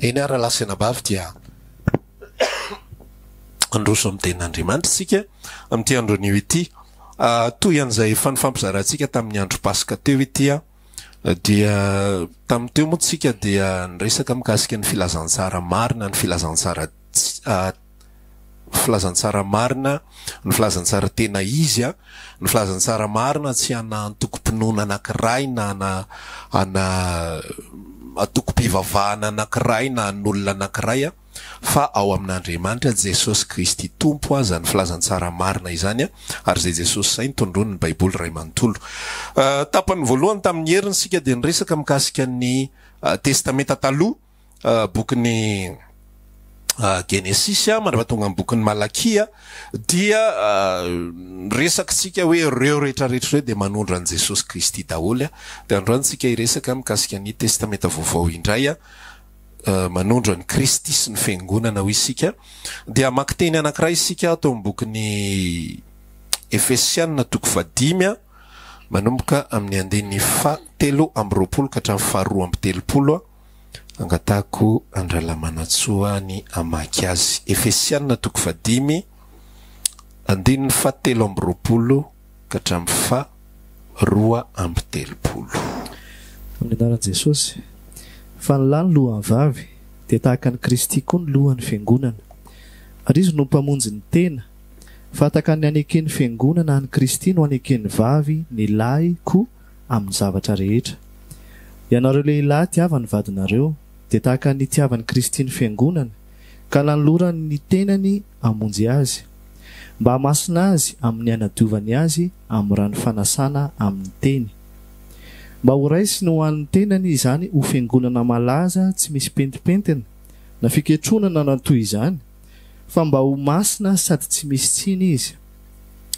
Eny ary lahy sy anabavy dia handroso amin'ny tenin'Andriamanitra isika amin'ity andro anio ity. Toy an'izay efa nifampizarantsika tamin'ny andro paska teo ity dia tamin'ny teo moa isika dia niresaka mikasika ny filazantsara marina, ny filazantsara Filazantsara marina, ny filazantsara tena izy an! Ny filazantsara marina tsy ana antokom-pinoana anankiray na ana ana antokom-pivavahana anankiray na an'olona anankiray an! Fa ao amin'Andriamanitra, Jesosy Kristy Tompo an! Izany filazantsara marina izany an! Ary izay Jesosy izay no tondroin'ny Baiboly iray manontolo. Tapany voalohany tamin'ny heriny isika dia niresaka mikasika ny Testamenta Taloha. bokin'ny Genesisy mandra-paha tonga amin'ny bokin'ny Malakia dia resakitsika hoe ireo rehetra rehetra ireo dia manondro an'i Jesosy Kristy daholo. Dia androany tsika hiresaka mikasika ny Testamenta Vaovao indray, manondro an'i Kristy sy ny Fiangonana hoy isika. Dia hamaky teny anankiray isika ato amin'ny bokin'ny Efesiana toko fahadimy manomboka amin'ny andininy fahatelo amby roapolo ka hatramin'ny faharoa amby telopolo. Angatahiko an-dRalamanantsoa ny hamaky azy. Efesiana toko fahadimy, andininy fahatelo amby roapolo ka hatramin'ny faha roa amby telopolo. Amin'ny anaran'i Jesosy. Fa ny lahy no lohan'ny vavy, dia tahaka an'i Kristy koa ny lohan'ny Fiangonana, ary izy no mpamonjy ny tena. Fahataka ny haneken'ny Fiangonana an'i Kristy no haneken'ny vavy, ny lahy, koa amin'ny zavatra rehetra. Ianareo lehilahy tiava ny vadinareo, dia tahaka ny itiavan'i Kristy ny Fiangonany, ka nanolorany ny tenany hamonjy azy, mba hamasina azy amin'ny hanadiovany azy amin'ny rano fanasana amin'ny teny, mba ho raisiny ho an'ny tenany izany ho Fiangonana malaza tsy misy pentimpentina na fiketrona na toy izany, fa mba ho masina sady tsy misy tsiny izy.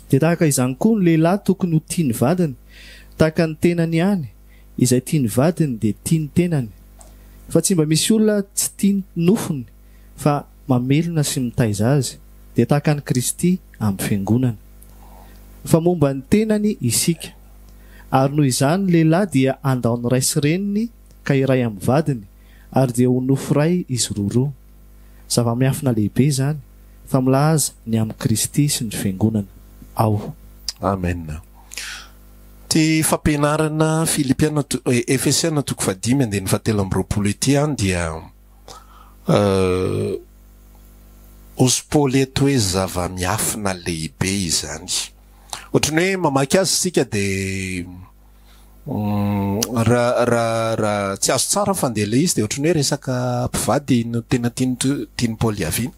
Dia tahaka izany koa ny lehilahy tokony ho tia ny vadiny tahaka ny tenany ihany, izay tia ny vadiny dia tia ny tenany. Fa tsy mba misy olona tsy tia ny nofony fa mamelona sy mitaiza azy, dia tahaka an'i Kristy amin'ny Fiangonana. Fa momba ny tenany isika. Ary noho izany ny lehilahy dia handao ny ray sy reniny ka hiray amin'ny vadiny, ary dia ho nofo iray izy roroa. Zava-miafina lehibe izany fa milaza ny amin'i Kristy sy ny Fiangonana aho. Amen. Ity fampianarana Filipiana, Efesiana toko fahadimy andininy fahatelo amby roapolo ity an dia hozy Paoly eto hoe zava-miafina lehibe izany. Ohatran'ny hoe mamaky azy isika dia Raha tsy azo tsara fa ndeha ilay izy dia ohatran'ny hoe resaka mpivady no tena tian'i Paoly hiaviana.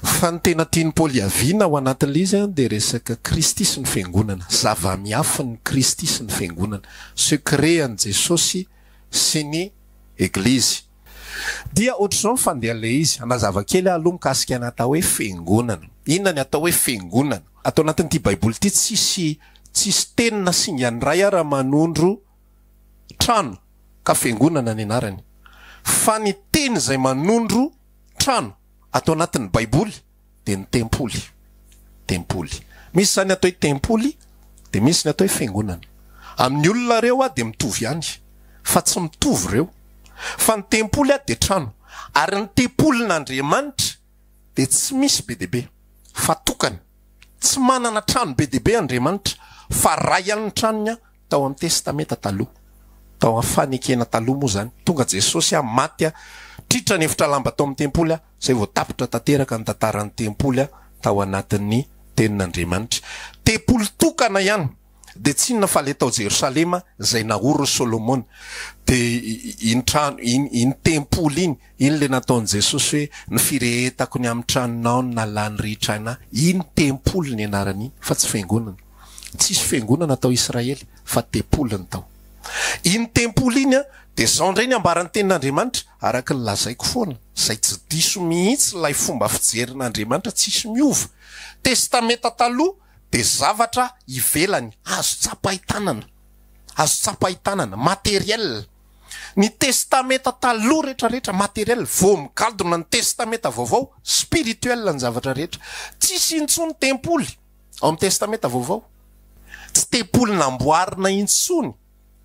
Fa ny tena tian'i Paoly hiaviana ao anatin'ilay izy dia resaka Kristy sy ny Fiangonana, zava-miafin'i Kristy sy ny Fiangonana, secret an'i Jesosy sy ny Eglizy. Dia ohatr'izao ny fandehan'ilay izy, hanazava kely aho aloha mikasika ny atao hoe Fiangonana. Inona ny atao hoe Fiangonana? Ato anatin'ity Baiboly ity tsisy tsisy teny na singa iray ara manondro trano ka fiangonana ny anarany. Fa ny teny izay manondro trano ato anatin'ny Baiboly dia ny tempoly. Tempoly. Misy izany atao hoe tempoly dia misy ny atao hoe fiangonana. Amin'ny olona ireo dia mitovy ihany fa tsy mitovy ireo. Fa ny tempoly dia trano ary ny tempolin'Andriamanitra dia tsy misy be dia be, fa tokana. Tsy manana trano be dia be Andriamanitra, fa ray ihany ny tranony an, tao amin'ny Testamenta Taloha. Tao amin'ny Fanekena Taloha moa izany. Tonga Jesosy an, maty an, tritra ny efitra lamba tao amin'ny Tempoly an, izay vao tapitra tanteraka ny tantaran'ny Tempoly an, tao anatin'ny Tenin'Andriamanitra. Tempoly tokana ihany. Dia tsy inona fa ilay tao Jerosalema izay naorin'i Solomona. Dia iny trano, iny, iny tempoly iny, iny ilay nataon'i Jesosy hoe, Ny firehetako ny amin'ny tranonao no nalà ny ritr'aina. Iny tempoly ny anarany iny, fa tsy fiangonana. Tsy hisy fiangonana tao Israely, fa tempoly ny tao. Iny tempoly iny an, dia izao indray ny ambaran'ny Tenin'Andriamanitra, araka ny lazaiko foana, izay tsy diso mihitsy ilay fomba fijerin'Andriamanitra, tsy hisy miova. Testamenta Taloha. dia zavatra ivelany, azo tsapain-tanana, azo tsapain-tanana, matériel. Ny Testamenta Taloha rehetra rehetra matériel, vao migadona ny Testamenta Vaovao, spirituel ny zavatra rehetra. Tsisy intsony tempoly ao amin'ny Testamenta Vaovao. Tsy tempoly namboarina intsony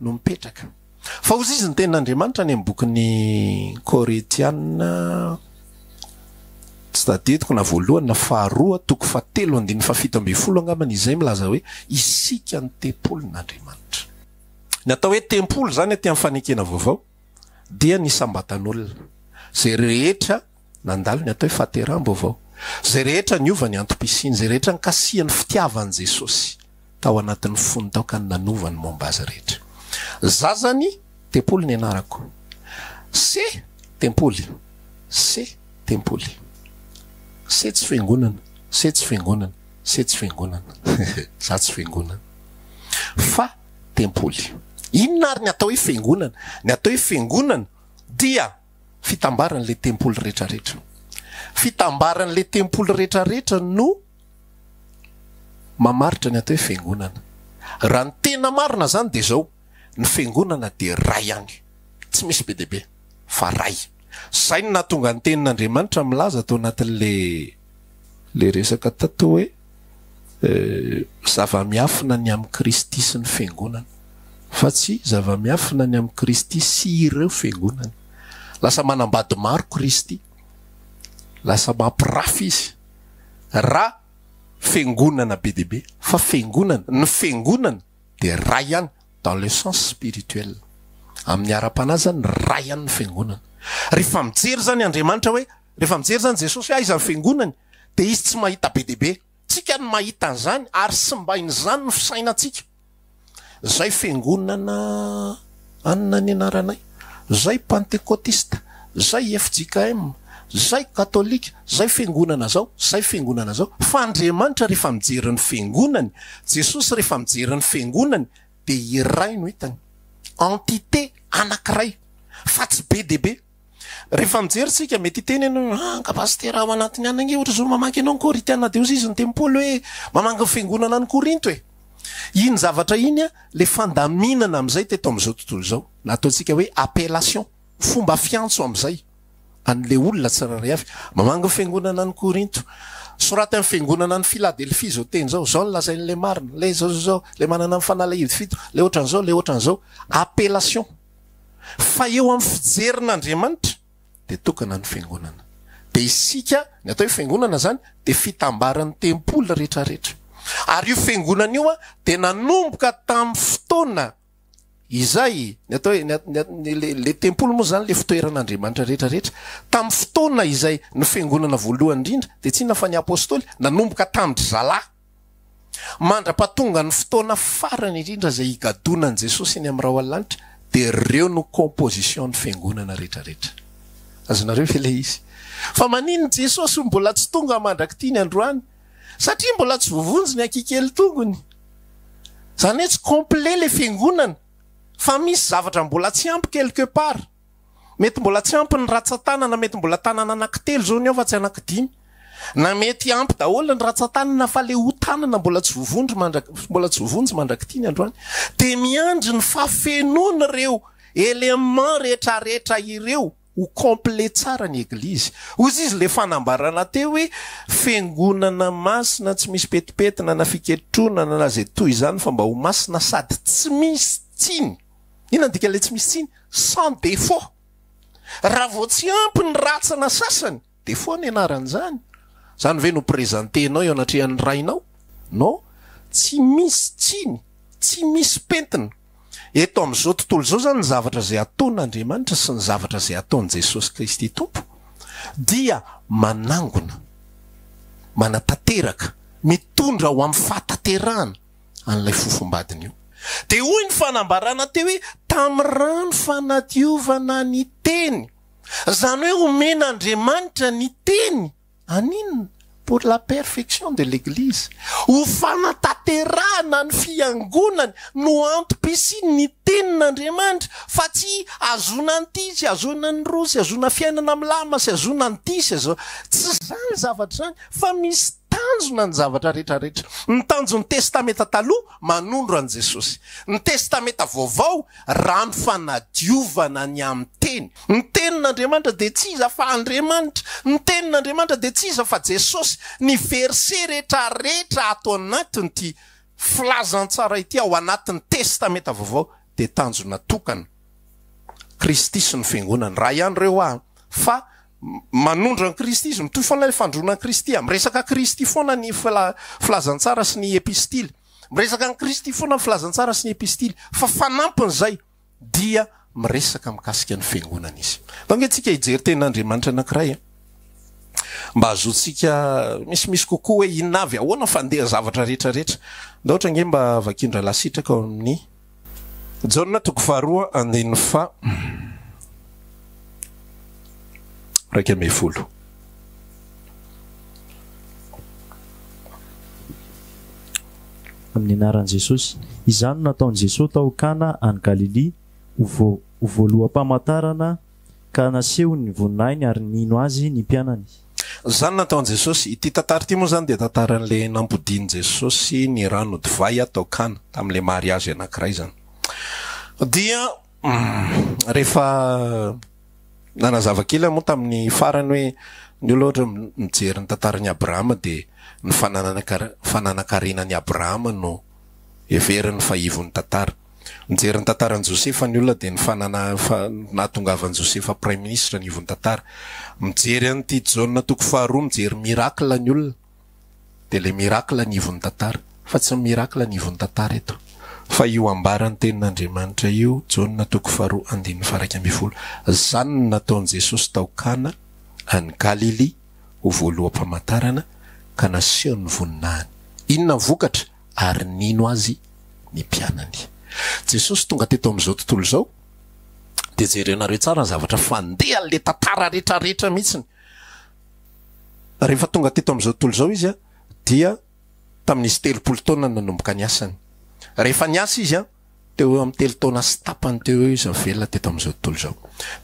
no mipetraka. Fa hozy izy ny tenin'Andriamanitra any amin'ny bokin'ny Koretiana, tsy tadidiko na voalohany na faharoa, toko fahatelo andininy fahafito ambin'ny folo angamba ny izay milaza hoe isika ny tempolin'Andriamanitra. Ny atao hoe tempoly izany aty amin'ny fanekena vaovao dia ny isam-batan'olona, izay rehetra Nandalo ny atao hoe fahateraham-baovao. Izay rehetra niova ny antom-pisiany, izay rehetra nikasihan'ny fitiavany Jesosy tao anatin'ny fony tao ka ny nanova ny momba azy rehetra. Zazany, tempoly ny anarako. Se, tempoly. Se, tempoly. Se tsy fiangonana. Se tsy fiangonana. Se tsy fiangonana. Za tsy fiangonana. Fa tempoly. Inona ary ny atao hoe fiangonana? Ny atao hoe fiangonana dia Fitambaran'ilay tempoly rehetrarehetra. Fitambaran'ilay tempoly rehetrarehetra no mamaritra ny atao hoe fiangonana. Raha ny tena marina izany dia izao, ny fiangonana dia iray ihany, tsy misy be dia be, fa iray. Izay no nahatonga ny Tenin'Andriamanitra milaza tao anatin'ilay ilay resaka tato hoe. Zava-miafina ny amin'i Kristy sy ny Fiangonany, fa tsy zava-miafina ny amin'i Kristy sy ireo Fiangonany. Lasa manambady maro Kristy, lasa mampirafy Izy, raha Fiangonana be dia be, fa Fiangonana, ny Fiangonana dia Ray ihany, dans le sens spirituel, amin'ny ara-panahy izany, Ray ihany ny Fiangonana. Rehefa mijery izany Andriamanitra hoe. Rehefa mijery izany Jesosy hoe aiza ny fiangonany dia izy tsy mahita be dia be. Tsika no mahita an'izany ary simbain'izany ny fisainantsika. Zay fiangonana anona ny anaranay, zay pantekotista, zay fjkm, zay katolika, zay fiangonana zao, zay fiangonana zao. Fa Andriamanitra rehefa mijery ny fiangonany, Jesosy rehefa mijery ny fiangonany dia iray no hitany. Entité anakiray fa tsy be dia be. Rehefa mijery isika, mety hiteny ianao hoe, Ah, nga Pasitera ao anatiny any ange ohatr'izao no mamaky anao ny Korintiana Diosezin'ny Tempoly hoe mamaky ny fiangonana any Korinto e! Iny zavatra iny, ilay fandaminana amin'izay teto amin'izao tontolo izao, na ataontsika hoe appellation, fomba fiantso amin'izay an'ilay olona tsirairay avy, mamaky ny fiangonana any Korinto, soraty amin'ny fiangonana any Filadelfia izao teny izao, izao no lazain'ilay marina, ilay izao izao izao, ilay manana ny fanalahidy fito, ilay ohatran'izao, ilay ohatran'izao. Appellation. Fa eo amin'ny fijerin'Andriamanitra dia tokana ny fiangonana. Dia isika, ny atao hoe fiangonana izany dia fitambaran'ny tempoly rehetrarehetra. Ary io fiangonana io dia nanomboka tamin'ny fotoana izay, ny atao hoe, ny atao hoe, ilay, ilay tempoly moa izany ilay fitoeran'Andriamanitra rehetrarehetra. Tamin'ny fotoana izay ny fiangonana voalohany indrindra, dia tsinona fa ny apostoly nanomboka tamin-dry zalahy. Mandra-pahatonga ny fotoana farany indrindra izay higadonan'i Jesosy eny amin'ny rahona lanitra dia ireo no composition ny fiangonana rehetra rehetra. Azonareo ve ilay izy? Fa maninona Jesosy mbola tsy tonga mandrak'ity ny androany? Satria mbola tsy voavonjy ny hakikely tongony. Izany hoe tsy complet ilay fiangonana fa misy zavatra mbola tsy ampy quelque part. Mety mbola tsy ampy ny ratsan-tanana, mety mbola tanana anankitelo izao ny ao fa tsy anankidimy. Na mety ampy daholo ny ratsan-tanana fa ilay ho tanana mbola tsy voavondro mandrak, mbola tsy voavonjy mandrak'ity ny androany. Dia miandry ny fafenoan'ireo éléments rehetrarehetra ireo ho complet tsara ny Eglizy. Hozy izy ilay fanambarana teo hoe, Fiangonana masina tsy misy petipetina na fiketronana na izay toy izany fa mba ho masina sady tsy misy tsiny. Inona ny dikan'ilay tsy misy tsiny? Sans défaut. Raha vao tsy ampy ny ratsana sasany, défaut ny anaran'izany. Izany ve no presenter-nao eo anatrehan'ny rainao? Non, tsy misy tsiny, tsy misy pentina. Eto amin'izao tontolo izao izany ny zavatra izay ataon'Andriamanitra sy ny zavatra izay ataon'i Jesosy Kristy Tompo dia manangona, manatanteraka, mitondra ho amin'ny fahatanterahana. an'ilay fofombadiny io. Dia hoy ny fanambarana teo hoe tamin'ny rano fanadiovana ny teny. Izany hoe omen'Andriamanitra ny teny haninona? Pour la perfection de l'Eglise. Ho fanatanterahana ny fiangonany no antom-pisian'ny tenin'Andriamanitra fa tsy hahazoana an'ity, tsy hahazoana an'irony, tsy hahazoana fiainana milamina, tsy hahazoana an'ity, tsy hahazoana. Tsy izany ny zavatra izany fa misy. Tanjona ny zavatra rehetra rehetra. Ny tanjon'ny Testamenta Taloha, manondro an'i Jesosy. Ny Testamenta Vaovao, rano fanadiovana ny amin'ny Teny. Ny Tenin'Andriamanitra dia tsy iza fa Andriamanitra. Ny Tenin'Andriamanitra dia tsy iza fa Jesosy. Ny verset rehetra rehetra ato anatin'ity filazantsara ity ao anatin'ny Testamenta Vaovao dia tanjona tokana. Kristy sy ny Fiangonany. Raha ianreo aho fa. Manondro an'i Kristy izy. Mitohy foana ilay fandroana an'i Kristy. Miresaka an'i Kristy foana ny Filazantsara sy ny Epistily. Miresaka an'i Kristy foana ny Filazantsara sy ny Epistily. Fa fanampin'izay dia miresaka mikasika ny Fiangonana izy. Atao ange isika hijery Tenin'Andriamanitra anankiray mba hahazoantsika misimisy kokoa hoe inona avy, ahoana ny fandehan'ny zavatra rehetra rehetra. Ndao ohatra ange mba vakian-dRahalasitraka ao amin'ny. Jaona toko faharoa andininy faha iraika ambin'ny folo. Amin'ny anaran'i Jesosy. Izany no nataon'i Jesosy tao Kana any Galilia ho voaloham-pamantarana. ka nasehony ny voninahiny ary nino Azy ny mpianany. Izany nataon'i Jesosy. Ity tantara ity moa izany dia tantaran'ilay nampodian'i Jesosy ny rano divay tao Kana, tamin'ilay mariazy anankiray izany. Dia rehefa nanazava kely aho moa tamin'ny farany hoe ny olona ohatra mijery ny tantaran'i Abrahama dia ny fananankarena an'i Abrahama no heveriny fa ivon'ny tantara. Nijery ny tantaran'i Josefa ny olona dia ny nahatongavan'i Josefa praiminisitra ny ivon'ny tantara. Mijery an'ity Jaona toko faharoa mijery miracle ny olona dia ilay miracle ny ivon'ny tantara. Fa tsy ny miracle ny ivon'ny tantara eto. Fa io ambara ny tenin'Andriamanitra io Jaona toko faharoa andininy faharaika ambin'ny folo. Izany no nataon'i Jesosy tao Kana any Galilia ho voaloham-pamantarana ka nasehony ny voninahiny. Inona ny vokatra? ary nino Azy ny mpianany. Jesosy tonga teto amin'izao tontolo izao, dia jerenareo tsara ny zavatra fandehan' ilay tantara rehetra rehetra mihitsiny. Rehefa tonga teto amin'izao tontolo izao Izy dia tamin'izy telopolo taona nanomboka ny asany. Rehefa niasa Izy teo ho eo amin'ny telo taona sy tapany teo ho eo Izy no velona teto amin'izao tontolo izao.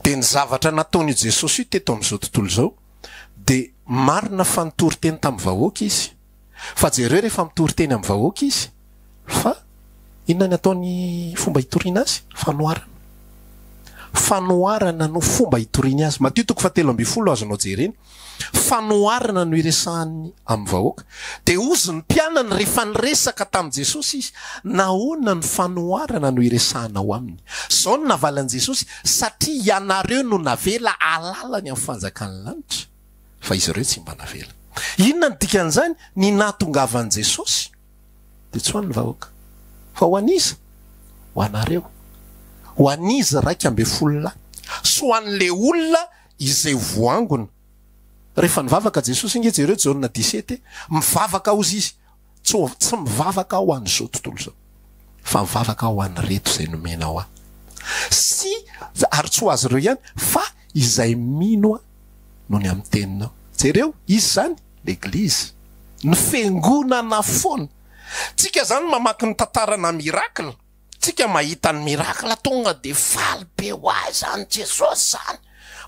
Dia ny zavatra nataon' io Jesosy io teto amin'izao tontolo izao dia marina fa nitory teny tamin'ny vahoaka Izy, Fa jereo rehefa mitory teny amin'ny vahoaka izy fa inona ny ataony fomba hitoriana azy? Fanoharana. Fanoharana no fomba hitoriany azy. Matio toko fahatelo ambin'ny folo azonao jerena. Fanoharana no iresahany amin'ny vahoaka. Dia hozy ny mpianany rehefa niresaka tamin'i Jesosy izy, nahoana no fanoharana no iresahanao aminy? Izao no navalin'i Jesosy, satria ianareo no navela hahalala ny amin'ny fanjakan'ny lanitra. fa izy ireo tsy mba navela. Inona no dikan'izany? Ny nahatongavan'i Jesosy dia tsy ho an'ny vahoaka, fa ho an'iza? Ho anareo, ho an'izy iraika ambin'ny folo lahy, sy ho an'ilay olona izay ho voangona. Rehefa nivavaka Jesosy, inge jereo Jaona disety e, mivavaka hozy izy, Tsy tsy mivavaka aho ho an'izao tontolo izao, fa mivavaka aho ho an'ireto izay nomenao ahy, sy, ary tsy ho azy ireo ihany, fa izay mino ahy noho ny amin'ny teninao. Jereo, iza izany? L'Eglizy, ny Fiangonana foana. Tsika izany mamaky ny tantaranà miracle. Tsika mahita ny miracle tonga de faly be ho ahy zany Jesosy zany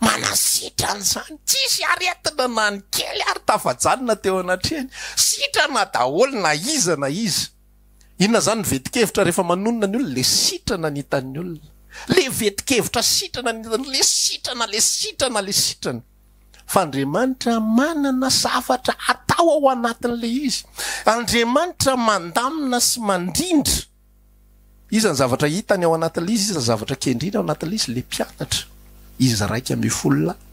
manasitrana zany tsisy aretina na ny kely ary tafajanona teo anatrehany sitrana daholo na iza na iza inona zany ny vetikevitra rehefa manonona ny olona le sitrana ny hitan'ny olona le vetikevitra sitrana ny hitan'ny olona le sitrana le sitrana le sitrana fa Andriamanitra manana zavatra atao ao anatin'ilay izy. Andriamanitra mandamina sy mandrindra. Iza ny zavatra hitany ao anatin'ilay izy, iza ny zavatra kendreny ao anatin'ilay izy? Ilay mpianatra, izy iraika ambin'ny folo lahy.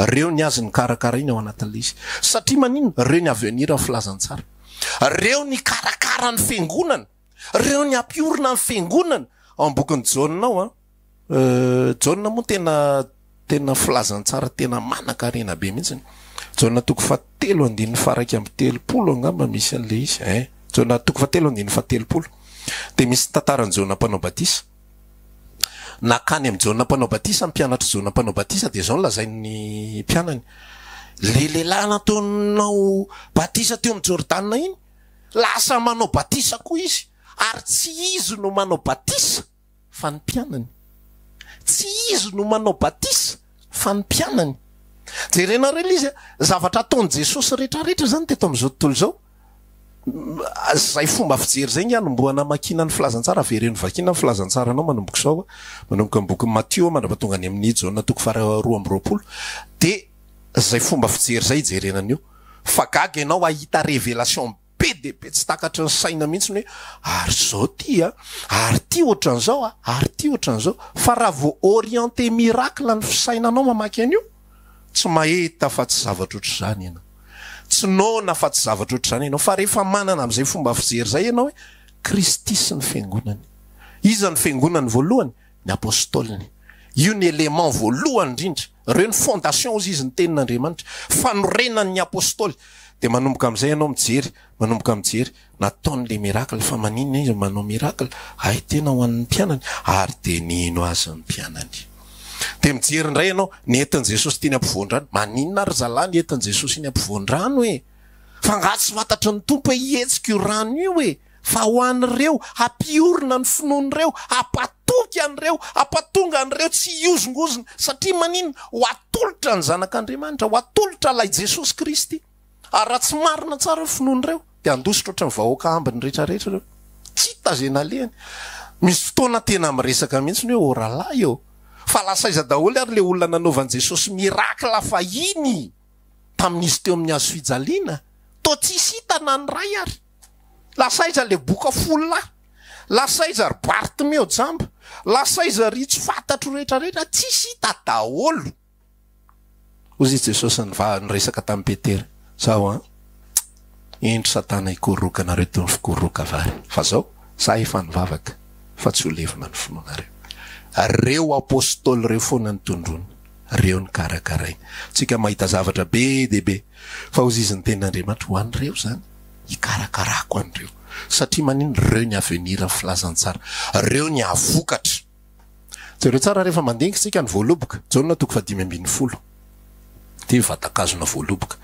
Ireo ny azy nokarakarainy ao anatin'ilay izy. Satria maninona? Ireo ny avenir ny filazantsara. Ireo nikarakara ny fiangonana. Reo ny hampiorina ny fiangonana ao am bokin'i Jaona ao an. Jaona moa tena tena filazantsara tena manankarena be mihitsy. Jaona toko faha telo andininy faha raika amby telopolo angamba misy an'le izy ein. Jaona toko faha telo andininy faha telopolo. De misy tantaran'i Jaona mpanao batisa. Nakany am Jaona mpanao batisa ny mpianatr'i Jaona mpanao batisa de zao no lazain'ny mpianany, le lehilahy nataonao batisa teo am Jordana iny, Lasa manao batisa koa izy, ary tsy izy no manao batisa fa ny mpianany. Tsy izy no manao batisa fa ny mpianany. Jerenareo ilay izy, zavatra ataon'i Jesosy rehetrarehetra izany teto amin'izao tontolo izao, izay fomba fijery izay ngy anombohana amakiana ny filazantsara, avereno hovakiana ny filazantsaranao manomboka izao, manomboka ny bokin'i Matio mandra-pahatonga any amin'i Jaona toko faharoa amby roapolo, dia. Zay fomba fijery zay ijerena an'io fa gaga ianao hahita révélation be dia be tsy takatry ny saina mihitsy ny hoe ary zao ty a, ary ty ohatran'izao a, ary ty ohatran'izao fa raha vao orienter miracle ny fisainanao mamaky an'io tsy mahita afa tsy zavatra ohatr'izany ianao, tsy noana afa tsy zavatra ohatr'izany ianao fa rehefa manana an'izay fomba fijery zay ianao hoe Kristy sy ny Fiangonany. Iza ny Fiangonany voalohany? Ny Apostoliny. Io ny élément voalohany indrindra. Ireo ny fondation hozy izy ny tenin'Andriamanitra. Fanorenan'ny Apostoly. Dia manomboka amin'izay ianao mijery, manomboka mijery, nataony ilay miracle, fa maninona izy no manao miracle? Hay tena ho an'ny mpianany. Ary dia nino azy ny mpianany. Dia mijery indray ianao, nentin'i Jesosy teny ampovoan-drano. Maninona ry zalahy ny entin'i Jesosy eny ampovoan-drano e? Fa angaha tsy fantatry ny Tompo hoe hihetsika io rano io e? Fa ho an'ireo hampiorina ny finoany ireo, hampatoky an'ireo, hampatonga an'ireo tsy hihozongozona. Satria maninona? Ho atolotra ny Zanak'Andriamanitra, ho atolotra Ilay Jesosy Kristy. Ary raha tsy marina tsara io finoany ireo, dia handositra ohatry ny vahoaka ambiny rehetra rehetra ireo. Tsy hita izay nalehany. Misy fotoana tena miresaka mihitsy ny hoe ô rahalahy ô! Fa lasa aiza daholo ary ilay olona nanaovan'i Jesosy miracle fahiny tamin'izy teo amin'ny hazofijaliana? Toa tsisy hita na ny iray ary. Lasa aiza le boka folo lahy? Lasa aiza ry Bartimeo jamba? Lasa aiza ry tsy fantatro rehetra rehetra? Tsisy hita daholo! Hozy i Jesosy nivaha niresaka tamin'i Petera, zao an! Indro Satana hikoroka anareo toy ny fikoroka vary. Fa zao, za efa nivavaka fa tsy ho levona ny finoanareo. Reo Apostoly reo foana ny tondroiny, reo ny karakarainy. Tsika mahita zavatra be dia be, fa hozy izy ny tenin'Andriamanitra ho an'ireo zany. hikarakarako an'ireo satria manino ireo ny avenir ny filazantsara ireo ny ahavokatra jereo tsara rehefa mandinika isika ny voaloboka jaona toko fahadimy ambin'ny folo dia vatakazona voaloboka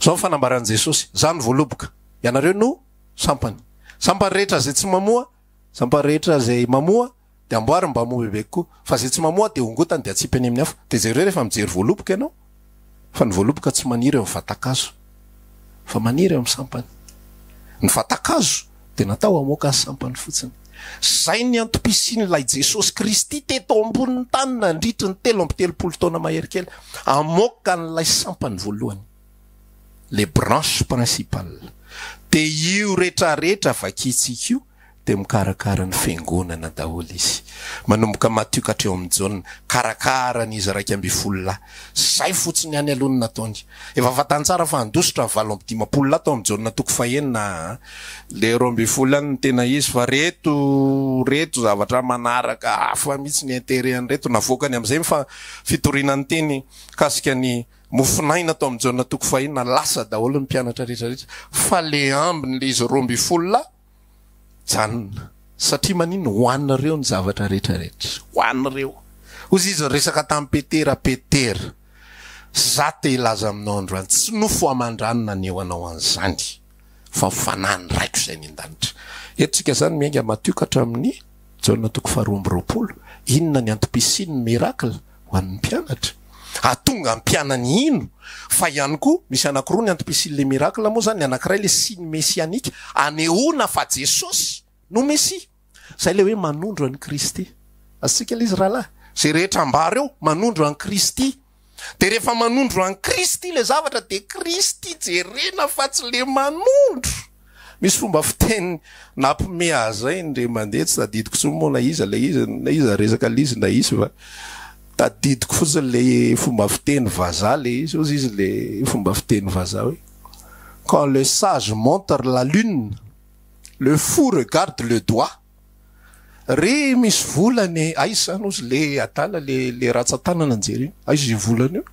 zao ny fanambaran'i jesosy za ny voaloboka ianareo no sampany sampany rehetra zay tsy mamoa sampany rehetra zay mamoa Dia amboary ny mba moa bebe kokoa. Fa izay tsy mamoa dia hongotany dia atsipy any amin'ny afo. Dia jereo rehefa mijery voaloboka ianao fa ny voaloboka tsy maniry eo amin'ny vatan-kazo fa maniry eo amin'ny sampany. Ny vatan-kazo dia natao hamoaka ny sampany fotsiny. Izay ny antom-pisian'ilay Jesosy Kristy teto ambonin'ny tany nandritry ny telo amby telopolo taona mahery kely. Hamoaka an'ilay sampany voalohany. Les branches principales. Dia io retraretra vakintsika io dia mikarakara ny fiangonana daholo izy. Manomboka Matio ka hatreo amin'ny Jaona, karakarany izy iraika ambin'ny folo lahy. Izay fotsiny ihany aloha no nataony. Efa fantany tsara fa handositra ny valo amby dimampolo lahy tao amin'ny Jaona toko fahenina a. Ilay roa ambin'ny folo ihany no tena izy fa ireto, ireto zavatra manaraka hafa mihitsy ny interet an'ireto navoakany amin'izay ny fa, fitoriana ny teny mikasika ny mofon'aina tao amin'ny Jaona toko fahenina. Lasa daholo ny mpianatra rehetra rehetra. Fa ilay ambiny, ilay izy roa ambin'ny folo lahy, Janona, satria maninona? Ho anareo ny zavatra rehetra rehetra. Ho anareo. Hozy izy niresaka tamin'i Petera, Petera, za te hilaza aminao androany, tsy nofo aman-drano naneho anao an'izany, fa fanahin'ny Raiko izay any an-danitra. Eto tsika zany miainga matio ka hatramin'ny Jaona toko faharoa amby roapolo, inona ny antom-pisian'ny miracle? Ho an'ny mpianatra? Hahatonga mpianany hino fa ihany koa misy anankiroa ny antipesin'ny le miracle moa zany, ny anankiray le signe messianique anehoana fa Jesosy no Mesia. Zay le hoe manondro an'i Kristy. Azontsika le izy rahalahy? Zay rehetra ambara eo manondro an'i Kristy. De rehefa manondro an'i Kristy le zavatra de Kristy jerena fa tsy le manondro. Misy fomba fiteny nampime aza indray mandeha, tsy tadidiko intsony moa na iza ilay izy, na iza resaka l'izy na izy fa tadidiko fotsiny ilay fomba fiteny vazaha ilay izy, hozy izy ilay fomba fiteny vazaha hoe quand le sage montre la lune, le fou regarde le doigt. Re misy vola anie, aiza zany ozy le adala le le ratsatanana ny jereny, aiza io volana io,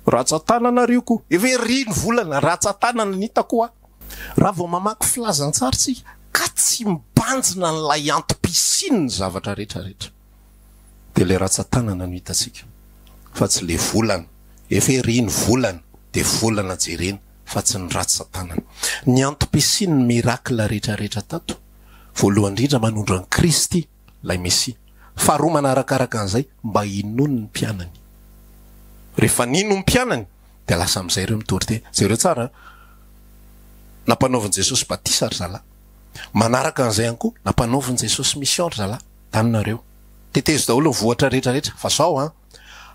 ratsatanana ary io ko, efa ery ny volana, ratsatanana ny hitako hoa. Raha vao mamaky filazantsara isika ka tsy mibanjina an'ilay antom-pisiany ny zavatra rehetra rehetra dia ilay ratsatanana no hitantsika fa tsy le volana, efa ery ny volana dia volana jerena fa tsy ny ratsatanana, ny antom-pisiany ny miracle rehetra rehetra tato. Voalohany indrindra manondro an'i Kristy, ilay Mesia. Faharoa manaraka araka an'izay mba hinoany ny mpianany. Rehefa nino ny mpianany dia lasa amin'izay ireo mitory tena. Jereo tsara an! Nampanaovin'i Jesosy batisa ry zalahy. Manaraka an'izay ihany koa, nampanaovin'i Jesosy mission ry zalahy. Tano nareo. Tetezo daholo ny vohitra rehetra rehetra. Fa zao an!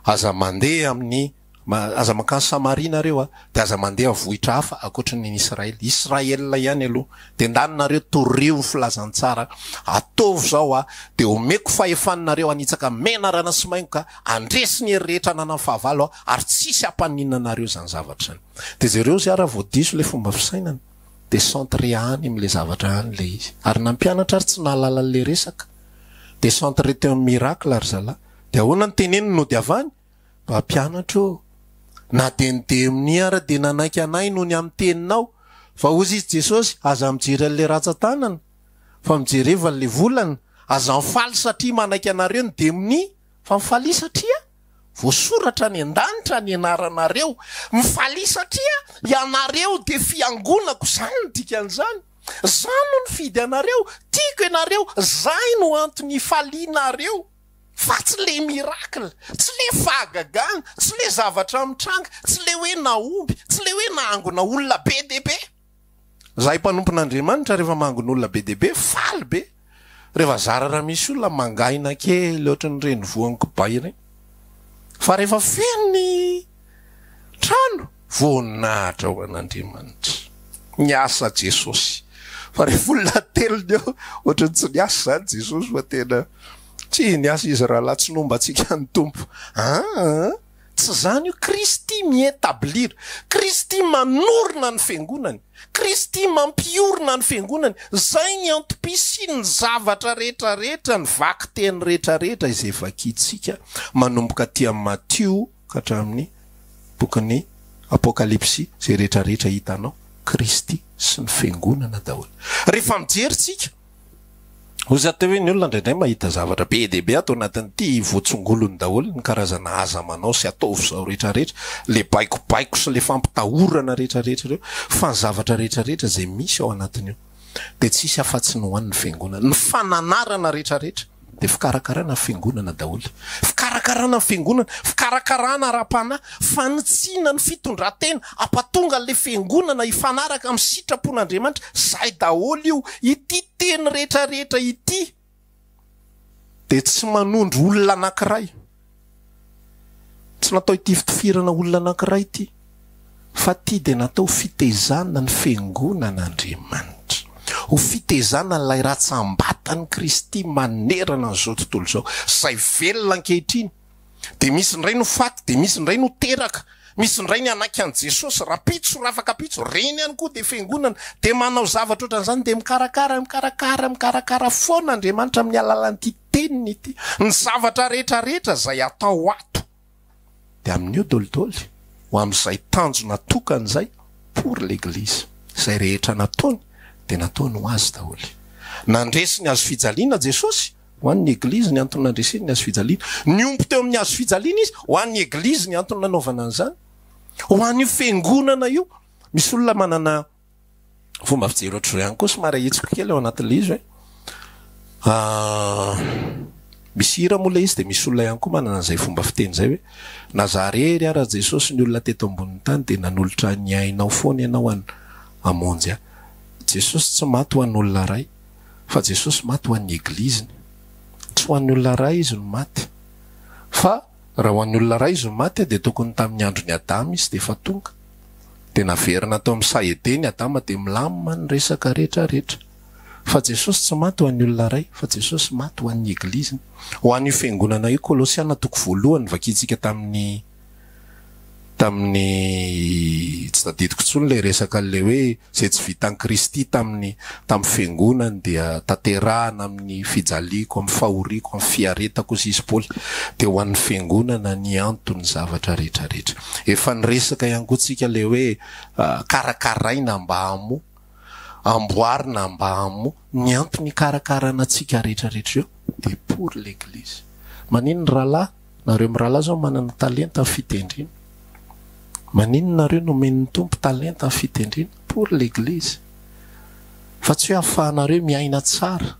Aza mandeha amin'ny Aza mankany Samaria nareo a! Dia aza mandeha vohitra hafa ankoatry ny Israel. Israel ihany aloha. Dia ndany nareo torio ny filazantsara. Ataovy izao a! Dia omeko fahefana nareo hanitsaka menarana sy maingoka, handresy ny hery rehetra ananan'ny fahavalo aho, ary tsy hisy hampaninona anareo izany zavatra izany. Dia jereo izay ary vao diso ilay fomba fisainany. Dia centré any amin'ilay zavatra any ilay izy. Ary na ny mpianatra ary tsy nahalala an'ilay resaka. Dia centré teo amin'ny miracle ry zalahy. Dia ahoana no teneniny nodiavany? Mpampianatra ô! Na dia ny demony ara dia nanaiky anay noho ny amin'ny teninao. Fa hozy izy Jesosy, aza mijery an'ilay ratsan-tanana, fa mijereva an'ilay volana. Aza mifaly satria manaiky anareo ny demony, fa mifalia satria voasoratra any an-danitra ny anaranareo. Mifalia satria ianareo dia fiangonako, izany no dikan'izany. Izaho no nifidy anareo, tiako ianareo, izay no antony ifalianareo. fa tsy le miracle, tsy le fahagagana, tsy le zavatra mitranga, tsy le hoe nahomby, tsy le hoe nahangona olona be dia be. Zahay mpanompon'Andriamanitra rehefa mahangona olona be dia be faly be, rehefa zara raha misy olona mangaina kely ohatran'ireny voan-kibay ireny, fa rehefa feno ny. Trano voninahitra ho an'Andriamanitra. Niasa Jesosy. Fa rehefa olona ateliny eo, ohatran'ny tsy niasa izany Jesosy fa tena Tsia, niasa izy rahalahy, tsy nomba antsika ny Tompo. Aa! Tsy izany io, Kristy mi-etablir, Kristy manorina ny Fiangonany, Kristy mampiorina ny Fiangonany, izay ny antom-pisian'ny zavatra rehetra rehetra, ny vakiteny rehetra rehetra izay vakintsika manomboka aty amin'ny Matio, hatramin'ny bokin'ny Apokalypsy izay rehetra rehetra hitanao, Kristy sy ny Fiangonana daholo. Rehefa mijery tsika, oza te hoe ny olona indraindray mahita zavatra be dia be ato anatin'ity, votsongolony daholo ny karazana aza manao sy ataovy zao rehetra rehetra, le baikobaiko sy le fampitahorana rehetra rehetra ireo, fa ny zavatra rehetra rehetra izay misy ao anatin'io. dia tsy hisy afa-tsy ny ho an'ny Fiangonana. Ny fananarana rehetrarehetra dia fikarakarana ny Fiangonana daholo. Fikarakarana ny Fiangonana, fikarakarana ara-panahy, fanitsiana ny fitondran-tena, hampatonga an'ilay Fiangonana hifanaraka amin'ny sitrapon'Andriamanitra, izay daholo io. Ity teny rehetrarehetra ity. dia tsy manondro olona anankiray, tsy natao hitifitifirana olona anankiray ity, fa ity dia natao ho fitezana ny fiangonan'Andriamanitra, ho fitezana an'ilay ratsambatan'i Kristy manerana an'izao tontolo izao, izay velona ankehitriny, Dia misy indray no faty, dia misy indray no teraka, misy indray ny hanaiky an'i Jesosy, rapitso, rafakapitso, reny ihany koa dia fiangonana, dia manao zavatra ohatran'izany, dia mikarakara, mikarakara, mikarakara foana Andriamanitra amin'ny alalan'ity Teniny ity. Ny zavatra rehetra rehetra izay atao ato dia amin'io dolidoly, ho amin'izay tanjona tokana izay, pour l'Eglise. Izay rehetra nataony dia nataony ho Azy daholo. Nandresy ny hazofijaliana Jesosy, Ho an'ny Eglizy ny antony nandreseny ny hazo fijaliana. Niompy teo amin'ny hazo fijaliana izy. Ho an'ny Eglizy ny antony nanaovana an'izany. Ho an'io Fiangonana io. Misy olona manana fomba fijery ohatr'izao ihany koa, somary ahitsiko kely ao anatin'ilay izy hoe, misy hira moa ilay izy dia misy olona ihany koa manana an'izay fomba fiteny izay hoe, na za rery ara Jesosy ny olona teto ambonin'ny tany dia nanolotra ny ainao foana ianao hamonjy ahy. Jesosy tsy maty ho an'olona iray. fa Jesosy maty ho an'ny Egliziny. Tsy ho an'ny olona iray Izy no maty. Fa raha ho an'ny olona iray Izy no maty dia tokony tamin'ny andron'i Adama Izy dia efa tonga. Dia naverina tao amin'ny saha Edena i Adama dia milamina ny resaka rehetra rehetra. Fa Jesosy tsy maty ho an'ny olona iray fa Jesosy maty ho an'ny Egliziny. Ho an'io Fiangonana io Kolosiana toko voalohany vakintsika tamin'ny. tamin'ny tsy tadidiko intsony ilay resaka an'ilay hoe izay tsy vitan'i Kristy tamin'ny tamin'ny fiangonany dia tanterahina amin'ny fijaliako, amin'ny fahoriako, amin'ny fiaretako hoy sisy Paoly. Dia ho an'ny fiangonana ny anton'ny zavatra rehetra rehetra. Efa niresaka ihany koa tsika ilay hoe karakaraina mba hamo, amboarina mba hamo, ny antony hikarakarana antsika rehetra rehetra io dia pour l'eglise. Maninona rahalahy? Nareo mirahalahy zao manana talenta fitendrina, maninona nareo nomen'ny Tompo talenta fitendrina pour l'église fa tsy hoe afahanareo miaina tsara,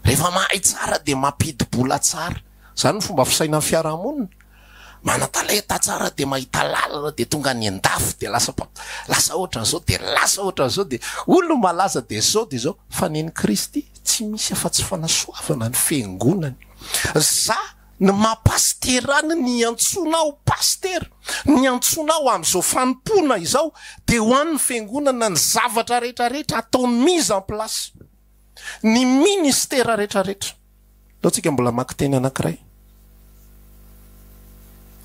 rehefa mahay tsara dia mampidibola tsara, zany ny fomba fisainan'ny fiarahamonina, manatalenta tsara dia mahita lalana dia tonga any andafy dia lasa mpa lasa ohatran'izao dia lasa ohatran'izao dia olona malaza dia izao dia izao, fa nen'i Kristy tsy misy afa-tsy fanasoavana ny fiangonany, za Ny maha pasitera an ny iantsoana aho pasitera, ny iantsoana aho amin'izao fanompoana izao dia ho an ny fiangonana ny zavatra rehetra rehetra ataony mise en place ny ministera rehetra rehetra. Aleontsika mbola maka teny anankiray.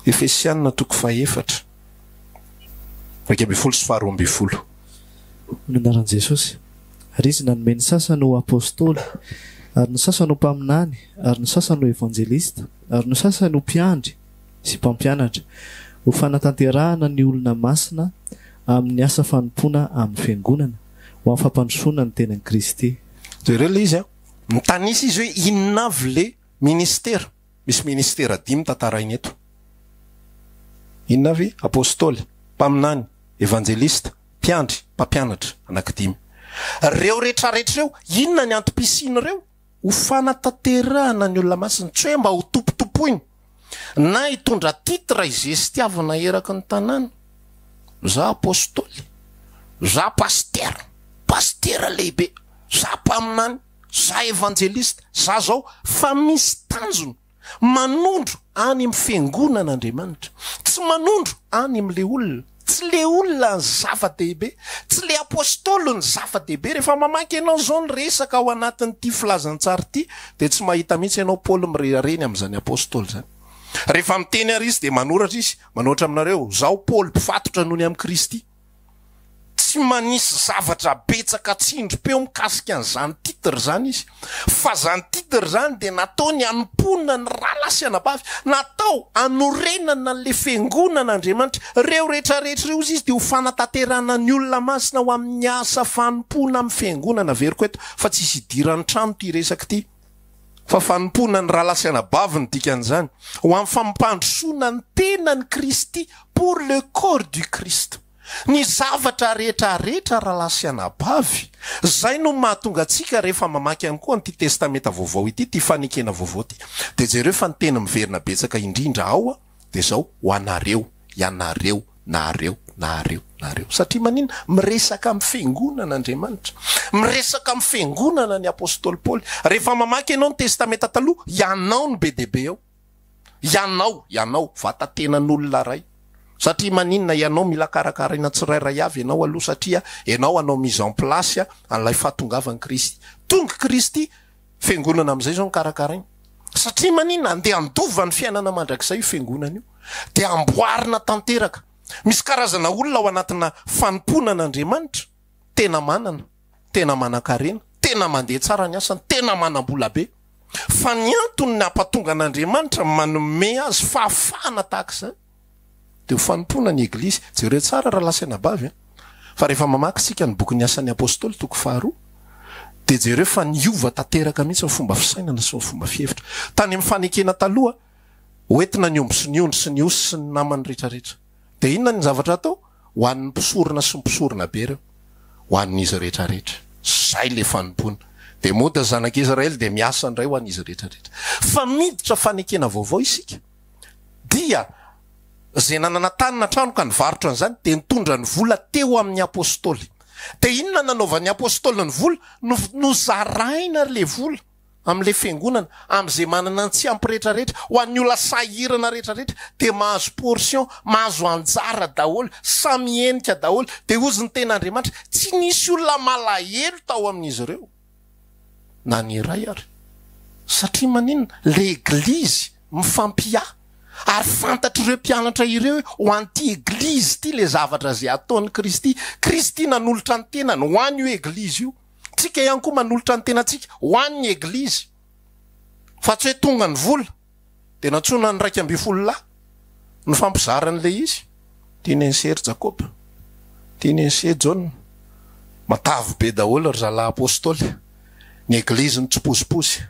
Efesiana toko faha efatra. Iraika ambin'ny folo sy faharoa ambin'ny folo. Ny anaran'i Jesosy. Ary Izy nanome ny sasany ho Apostoly, ary ny sasany ho mpaminany, ary ny sasany ho Evanjelista, ary ny sasany ho mpiandry sy mpampianatra, ho fanatanterahana ny olona masina amin'ny asa fanompoana amin'ny Fiangonana, ho amin'ny fampandrosoana ny tenan'i Kristy. Jereo ilay izy an! Mitanisa izy hoe inona avy ilay ministera. Misy ministera dimy tantaraina eto. Inona avy? Apostoly, mpaminany, evanjelista, mpiandry, mpampianatra. Anankidimy. Ireo retraretra ireo, inona ny antom-pisian'ireo? Ho fanatanterahana ny olona masina, tsy hoe mba ho tompotompoina, na hitondra titre izestiavina eraky ny tanàna. Za apostoly. Za pasitera. Pasitera lehibe. Za mpaminany. Za evanjelista za zao fa misy tanjona manondro any am fiangonana Andriamanitra tsy manondro any am le olona tsy le olona ny zava dehibe tsy le apostoly ny zava dehibe refa mamaky enao zao ny resaka ao anatin ty filazantsary ty de tsy mahita mihitsy enao Paoly mirerareny am zany apostoly zany refa miteny ary izy de manoratra izy manoatra aminareo zaho Paoly mpifatotra nony am Kristy. Tsy manisy zavatra betsaka atsindrim-peo mikasika an'izany titre izany izy. Fa izany titre izany dia nataony hanompoana ny rahalahy sy anabavy. Natao hanorenana an'ilay Fiangonan'Andriamanitra. Ireo rehetra rehetra ireo, hoy izy, dia ho fanatanterahana ny olona masina ho amin'ny asa fanompoana amin'ny Fiangonana. Averiko eto fa tsy hisy hidiran'ny trano ity resaka ity. fa fanompoana ny rahalahy sy anabavy ny dikan'izany, ho amin'ny fampandrosoana ny tenan'i Kristy, pour le corps du Christ. Ny zavatra rehetra rehetra rahalahy sy anabavy, izay no mahatonga antsika rehefa mamaky ihany koa an'ity Testamenta Vaovao ity, ity fanekena vaovao ity, dia jereo fa ny teny miverina betsaka indrindra ao, Dia izao ho anareo, ianareo, nareo, nareo, nareo. Satria maninona? Miresaka amin'ny Fiangonana Andriamanitra. Miresaka amin'ny Fiangonana ny Apostoly Paoly. Rehefa mamaky ianao ny Testamenta Taloha, ianao no be dia be ao. Ianao, ianao, vatan-tenan'olona iray. Satria maninona? Ianao mila karakaraina tsirairay avy ianao aloha, satria ianao hanao mise en place an'ilay fahatongavan'i Kristy. Tonga i Kristy! Fiangonana amin'izay izao no karakaraina. Satria maninona? Andeha handova ny fiainana mandrakizay io Fiangonana io. Dia amboarina tanteraka. Misy karazana olona ao anatina fanompoana an'Andriamanitra, tena manana, tena manan-karena, tena mandeha tsara ny asany, tena manam-bola be. Fa ny antony nampatonga an'Andriamanitra manome azy fahafahana tahaka izany, Dia ho fanompoana ny Eglizy. Jereo tsara rahalahy sy anabavy an! Fa rehefa mamaky isika ny bokin'ny Asan'ny Apostoly, toko faharoa, dia jereo fa niova tanteraka mihitsy ny fomba fisainana sy ny fomba fihevitra. Tany amin'ny fanekena taloha, hoentina ny omby sy ny ondry sy ny osy sy ny namany rehetrarehetra. Dia inona ny zavatra atao? Ho an'ny mpisorona sy ny mpisorona be ireo. Ho an'izy rehetrarehetra. Izay ilay fanompoana. Dia mody ny zanak'Israely dia miasa indray ho an'izy rehetrarehetra. Fa miditra fanekena vaovao isika. Dia izay nanana tany na trano ka nivarotra an'izany dia nitondra ny vola teo amin'ny apostoly. Dia inona no nanaovan'ny apostoly ny vola? Nozaraina ilay vola amin'ilay fiangonana, amin'izay manana ny tsy ampy rehetrarehetra, ho an'ny olona sahirana rehetrarehetra, dia mahazo portion, mahazo anjara daholo, samy henika daholo. Dia hozy ny tenin'Andriamanitra, tsy nisy olona malahelo tao amin'izy ireo. na ny iray ary. Satria maninona? Leglizy mifampiahy ary fantatr'ireo mpianatra ireo hoe ho an'ity eglizy ity ilay zavatra izay ataon'i Kristy. Kristy nanolotra ny tenany ho an'io eglizy io. Tsika ihany koa manolotra ny tenantsika ho an'ny eglizy fa tsy hoe tonga ny vola. dia nantsoina ny iraika ambin'ny folo lahy nifampizara an'ilay izy. Tiany an'i Sery Jakoba, tiany an'i Sery Jaona, matavy be daholo ry zalahy Apostoly, ny eglizy mitsipozipozy,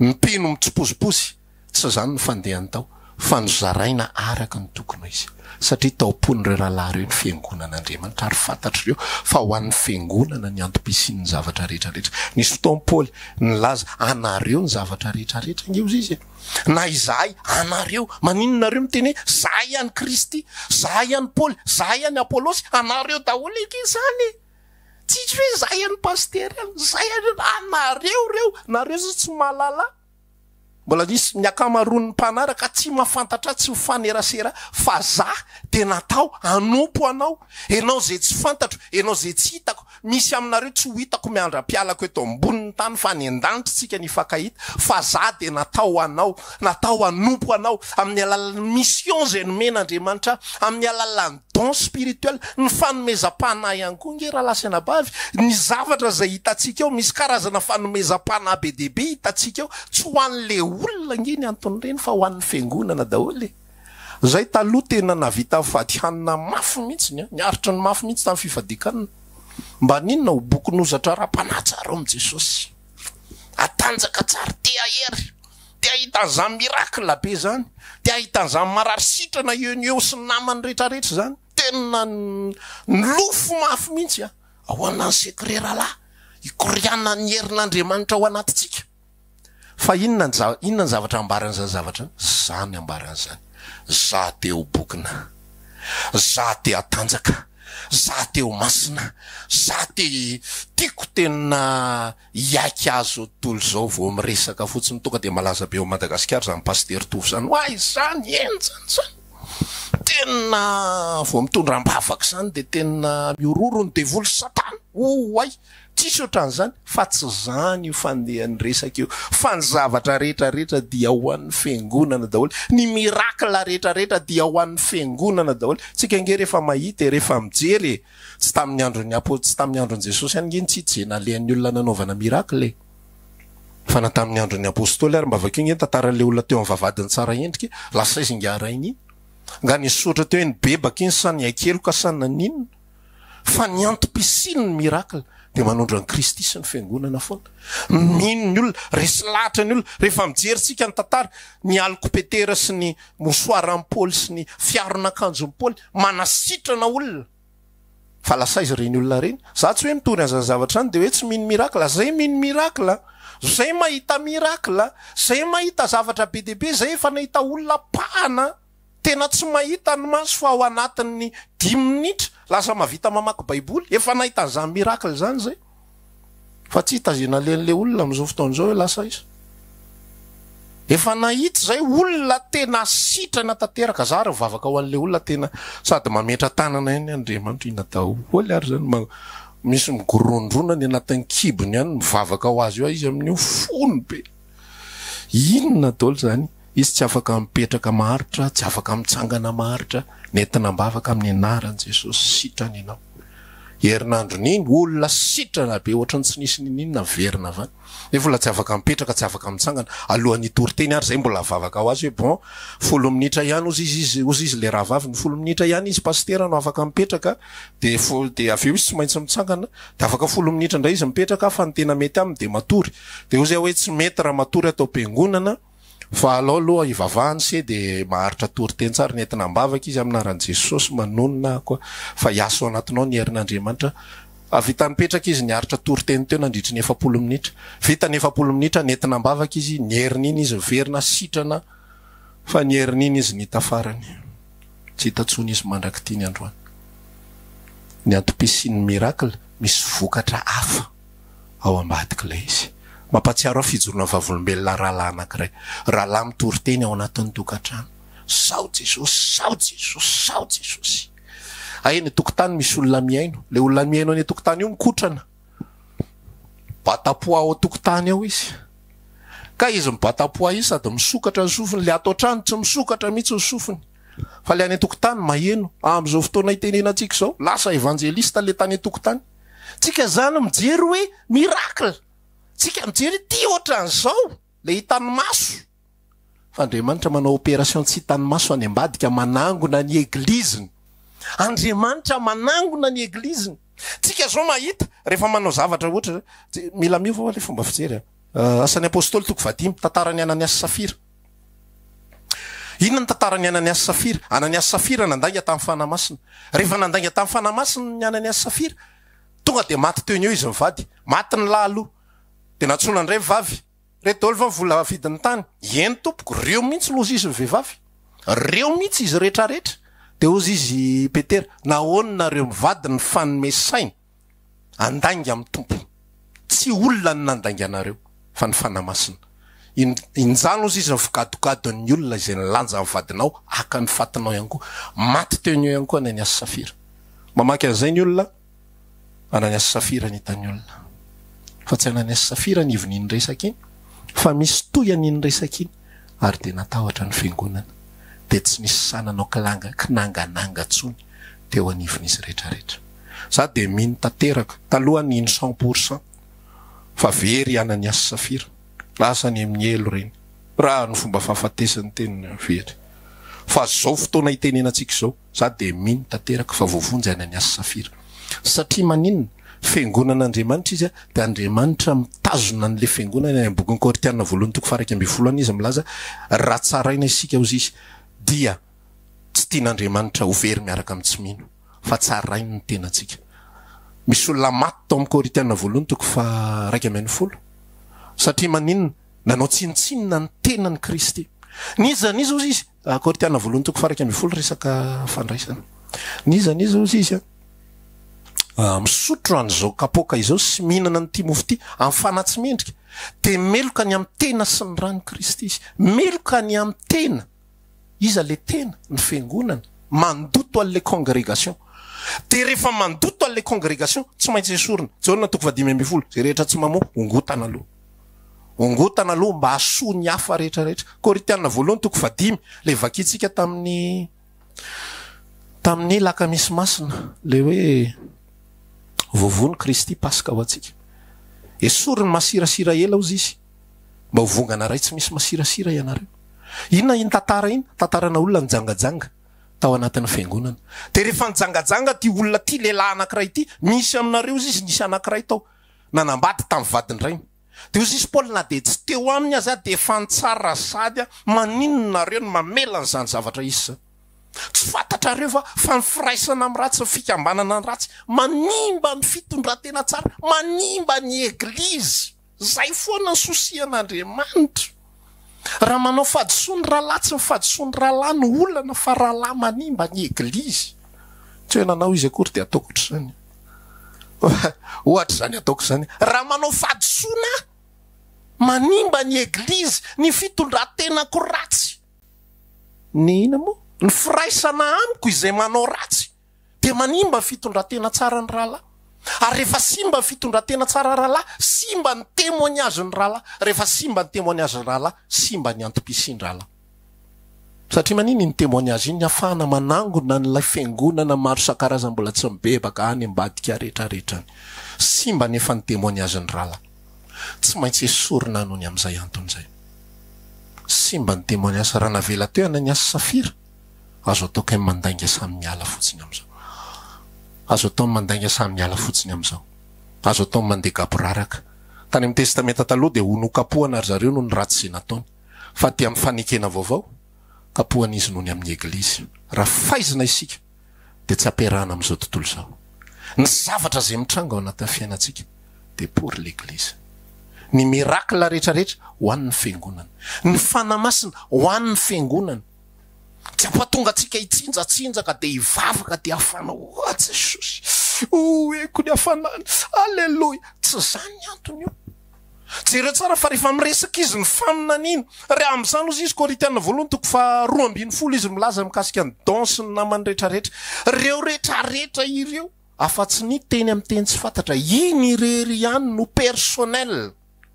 ny mpino mitsipozipozy, tsy izany ny fandehany tao fa nozaraina araka ny tokony ho izy. satria tao am-pon'ireo rahalahy ireo ny fiangonan'Andriamanitra, ary fantatry ireo fa ho an'ny fiangonana ny antom-pisian'ny zavatra rehetra rehetra. Nisy fotoan'i Paoly nilaza, Anareo ny zavatra rehetra rehetra. Ange hozy izy e! Na izahay, anareo. Maninona nareo miteny hoe, Izahay ihany Kristy, izahay ihany Paoly, izahay ihany Apolosy? Anareo daholo ange izany e! Tsisy hoe izahay ihany Pasitera, izahay ihany. Anareo ireo! Nareo izao tsy mahalala. Mbola nisy ny ankamaroan'ny mpanaraka tsy mahafantatra ahy tsy mifanerasera fa zah dia natao hanompo anao. Enao izay tsy fantatro, enao izay tsy hitako. Misy aminareo tsy ho hitako miandra-pialako eto ambonin'ny tany fa any an-danitra isika no hifankahita. Fa zah dia natao ho anao, natao hanompo anao amin'ny alalan'ny mission izay nomen'Andriamanitra ahy, amin'ny alalan'ny. Don spirituel, ny fanomezam-panahy ihany koa nge rahalahy sy anabavy, ny zavatra izay hitantsika eo, misy karazana fanomezam-panahy be dia be hitantsika eo, tsy ho an'le olona nge ny anton'ireny fa ho an'ny fiangonana daholo e! Zay taloha tena nahavita mifady hanina mafy mihitsy ny ny aritry ny mafy mihitsy tamin'ny fifadian-kanina, mba haninona? Ho bokin'ozatra ara-panahy tsara ao amin'i Jesosy, hatanjaka tsara, te hahery. Te hahita an'izany miracle be izany, te hahita an'izany marary sitrana eo no eo sy ny namany rehetrarehetra izany. Tena nilofo mafy mihitsy aho. Ahoana ny secret rahalahy hikorianan'ny herin'Andriamanitra ao anatintsika? Fa inona ny zavatra, inona ny zavatra ambaran'izany zavatra izany? Ambarany izany, za te ho bokona, za te hatanjaka, za te ho masina, za te, tiako tena, Hiaiky azy zao tontolo zao vao miresaka fotsiny tonga dia malaza be ao Madagasikara zany Pasitera Tovo zany oay zany henjana zany tena vao mitondra ambavaka zany dia tena mihororo ny devoly satana oay tsisy otran'izany fa tsy zany io fandehan'ny resaka io fa ny zavatra rehetra rehetra dia ho an'ny fiangonana daholo ny miracle rehetra rehetra dia ho an'ny fiangonana daholo tsika nge rehefa mahita e rehefa mijery e Tsy tamin'ny andron'ny apo, tsy tamin'ny andron'i Jesosy ihany nge ntsitsy zay nalehan'ny olona nanaovana miracle e! Fa na tamin'ny andron'ny apostoly ary mba vakio nge ny tantaran'ilay olona teo amin'ny vavahadin'i tsara endrika lasa izy nge arahina iny. Nga nisotra teo iny bebaka iny sa nihaikeloka sa naninona? Fa ny antom-pisian'ny miracle dia manondro an'i Kristy sy ny fiangonana foana. Mino ny olona, resy lahatra ny olona. Rehefa mijery tsika ny tantara, ny alikopetera sy ny mosoaran'i Paoly sy ny fiaron'akanjon'i Paoly, manasitrana olona fa lasa aiza ireny olona ireny? Za tsy hoe mitory an'izany zavatra izany dia hoe tsy mino miracle, zay mino miracle, zay mahita miracle, zay mahita zavatra be dia be, zay efa nahita olona pahana tena tsy mahita ny maso fa ao anatin'ny dimy minitra lasa mahavita mamaky baiboly, efa nahita an'izany miracle izany zay. Fa tsy hita izay nalehan' ilay olona amin' izao fotoana izao hoe lasa aiza. Efa nahita izay olona tena sitrana tanteraka, zary mivavaka ho an' ilay olona tena sady mametra tanana ihany Andriamanitra ina daholo ary izany ma misy migorondrona any anatin kibony any mivavaka ho azy eo izy amin' io fony be. Inona dol zany? Izy tsy afaka mipetraka maharitra, tsy afaka mitsangana maharitra, nentina am-bavaka amin'ny anaran'i Jesosy, sitrana ianao. Herinandron'iny, olona sitrana be ohatran'ny tsy nisy n'inon'inona niverina avy any, nefa olona tsy afaka mipetraka, tsy afaka mitsangana, alohan'ny hitory teny ary zay mbola vavaka ho azy hoe bon, folo minitra ihany ozy izy izy ozy izy le rahavaviny, folo minitra ihany izy pasitera no afaka mipetraka, de fo de avy eo izy tsy maintsy mitsangana, Dia afaka folo minitra indray izy mipetraka fa ny tena mety aminy dia matory. Dia hoy zay hoe tsy mety raha matory ato am-piangonana fa alao aloha hivavahany se dia maharitra tory teny tsara. Nentina am-bavaka izy amin'ny anaran'i Jesosy manonona aho koa fa hiasa ao anatinao ny herin'Andriamanitra. Hahavita nipetraka izy niaritra tory teny teo nandritry ny efapolo minitra. Vita ny efapolo minitra, nentina am-bavaka izy, ny herin'iny izy niverina sitrana fa ny herin'iny izy nita farany. Tsy hita tsony izy mandrak'ity ny androany. Ny antom-pisian'ny miracle misy vokatra hafa ao ambadik'ilay izy. Mampahatsiaro ahy fijoroana vavolombelona rahalahy anankiray. Rahalahy mitory teny ao anatin'ny tokantrano. Sao Jesosy, sao Jesosy, sao Jesosy. Hay eny an-tokotany misy olona mihaino. Ilay olona mihaino any an-tokotany io mikotrana. batapoa ao an-tokotany ao izy. Ka izy mibatapoa io sady misokatra ny sofiny, ilay ato an-trano tsy misokatra mihitsy ny sofiny fa ilay any an-tokotany maheno. Amin'izao fotoana itenenantsika izao, lasa evanjelista ilay tany an-tokotany. Tsika izany mijery hoe miracle, tsika mijery ity ohatran'izao, ilay hitan'ny maso. Fa Andriamanitra manao opération tsy hitan'ny maso any ambadika manangona ny Eglise-ny. Andriamanitra manangona ny Eglise-ny. Tsika zao mahita rehefa manao zavatra ohatra zao, tsy, mila miova hoa le fomba fijery an. Asan'ny Apostoly toko fahadimy, tantaran'i Anania sy Safira. Inona ny tantaran'i Anania sy Safira? Anania sy Safira nandainga tamin'ny Fanahy Masina. Rehefa nandainga tamin'ny Fanahy Masina ny Anania sy Safira, tonga dia maty teo ny eo izy mivady. Maty ny lahy aloha. Dia nantsoina ny raivavy. Redolva vola vidiny tany. Eny tompoko, reo mihitsy loza izy ny vehivavy. Reo mihitsy izy rehetra rehetra. Dia hozy izy Petera, nahoana nareo mivady ny fanome saina handainga amin'ny Tompo. Tsy olona no nandainga anareo, fa ny Fanahy Masina. In, injany hozy izy ny figadogadon'ny olona izay nilanja ny vadinao haka ny fatinao ihany koa. Maty teo ny eo ihany koa ny an'i Asy Safira. Mamaky an'izay ny olona. Ananias Safira ny hitan'ny olona fa tsy Ananias Safira ny ivon'iny resaka iny fa misy toy an'iny resaka iny ary dia natahotra ny fiangonana dia tsy nisy sahy nanao kilanga kinangananga tsony teo anivon'izy retraretra za dia mino tanteraka taloha ny iny cent pour cent fa very i Ananias Safira lasa any amin'ny helo ireny raha ny fomba fahafatesan'ny teniny very fa zao fotoana itenenantsika izao Za dia mino tanteraka fa voavonjy any an'i Assafira. Satria maninona? Fiangonan'Andriamanitra izy dia Andriamanitra mitazona an'ilay fiangonany any amin'ny bokin'i Koritiana voalohany toko faha iraika ambin'ny folo any izy milaza raha tsaraina isika ozy izy dia tsy tian'Andriamanitra ho very miaraka amin'ny tsy mino fa tsarainy ny tenantsika. Misy olona maty tao amin'ny Koritiana voalohany toko faha iraika ambin'ny folo satria maninona? Nanao tsinontsinona ny tenan'i Kristy. N'iza n'iza ozy izy Korinthiana voalohany toko faha iraika ambin'ny folo resaka fandraisana. N'iza n'iza ozy izy a misotro an'izao kapoaka izao sy mihinana an'ity mofo ity amin'ny fanahy tsy mendrika dia meloka ny amin'ny tena sy ny ran'i Kristy izy. Meloka ny amin'ny tena. Iza ilay tena? Ny fiangonana. Mandoto an'ilay congregation. Dia rehefa mandoto an'ilay congregation, tsy maintsy esorina. Jaona toko faha dimy ambin'ny folo, izay rehetra tsy mamoa, hongotana aloha. Hongotana aloha mba hahasoa ny hafa rehetra rehetra. Koritiana voalohany toko faha dimy, ilay vakintsika tamin'ny tamin'ny lakamisy masina, ilay hoe voavono Kristy Paska ho antsika. Esory ny masirasira ela hozy izy mba ho vongana iray tsy misy masirasira ianareo. Inona iny tantara iny? Tantarana olona nijangajanga tao anatin'ny fiangonana. Dia rehefa nijangajanga ity olona ity, lehilahy anankiray ity, misy aminareo hozy izy nisy anankiray tao. nanambady tamin'ny vadin-drainy. Dia hoy Jesosy, Paoly, na dia tsy teo aminy aza aho dia efa nitsara sahady aho, maninona nareo no mamela an'izany zavatra hisy izany? Tsy fantatrareo va fa ny firaisana amin'ny ratsy, ny fikambanana ny ratsy, manimba ny fitondran-tena tsara, manimba ny Eglizy? Izay foana ny souci an'Andriamanitra. Raha manao fahadisoa ny rahalahy, tsy ny fahadisoa ny rahalahy no olana fa rahalahy manimba ny eglizy. Tsy hoe nanao izy akory dia ataoko ohatr'izany. Ohatr'izany ataoko izany. Raha manao fahadisoana aho, manimba ny eglizy, ny fitondran-tenako ratsy. Ny inona moa? Ny firaisana amiko izay manao ratsy. dia manimba ny fitondran-tena tsaran'ny rahalahy. Ary rehefa simba ny fitondran-tena tsaran'ny rahalahy, simba ny témoignage-n'ny rahalahy. Rehefa simba ny témoignage-n'ny rahalahy, simba ny antom-pisian'ny rahalahy. Satria maninona iny témoignage iny? Ny hahafahana manangona an'ilay fiangonana maro isan-karazany mbola tsy mibebaka any ambadika rehetrarehetra any. Simba anefa ny témoignage-n'ny rahalahy. Tsy maintsy esorina anony amin'izay antony izay. Simba ny témoignage. Raha navela teo i Ananiasy sy Safira, Azo atao kay mandainga samy miala fotsiny amizao Azo atao mandainga samy miala fotsiny amizao Azo atao mandeha gaboraraka Tany amin'ny testamenta taloha dia ho nokapohana ry zareo noho ny ratsy izay nataony fa aty amin'ny fanekena vaovao kapohana izy noho ny amin'ny eglizy Raha faizina isika dia tsy ampiarahana amin'izao tontolo izao ny zavatra izay mitranga ao anatin'ny fiainantsika dia pour l'église Ny miracle rehetrarehetra ho an'ny fiangonana Ny fanahy masina ho an'ny fiangonana Tsy hampatongatsika hitsinjatsinjaka dia hivavaka dia hafana Oa Jesosy oeko ny hafanany Aleloia Tsy izany ny antony io Jereo tsara fa rehefa miresaka izy ny faminaniana Ary amin'izany ozy izy Korintiana voalohany toko faha roa ambin'ny folo izy milaza mikasika ny don sy ny namany rehetra rehetra Ireo rehetra rehetra ireo afa-tsy ny teny amin'ny teny tsy fantatra Iny irery ihany no personnel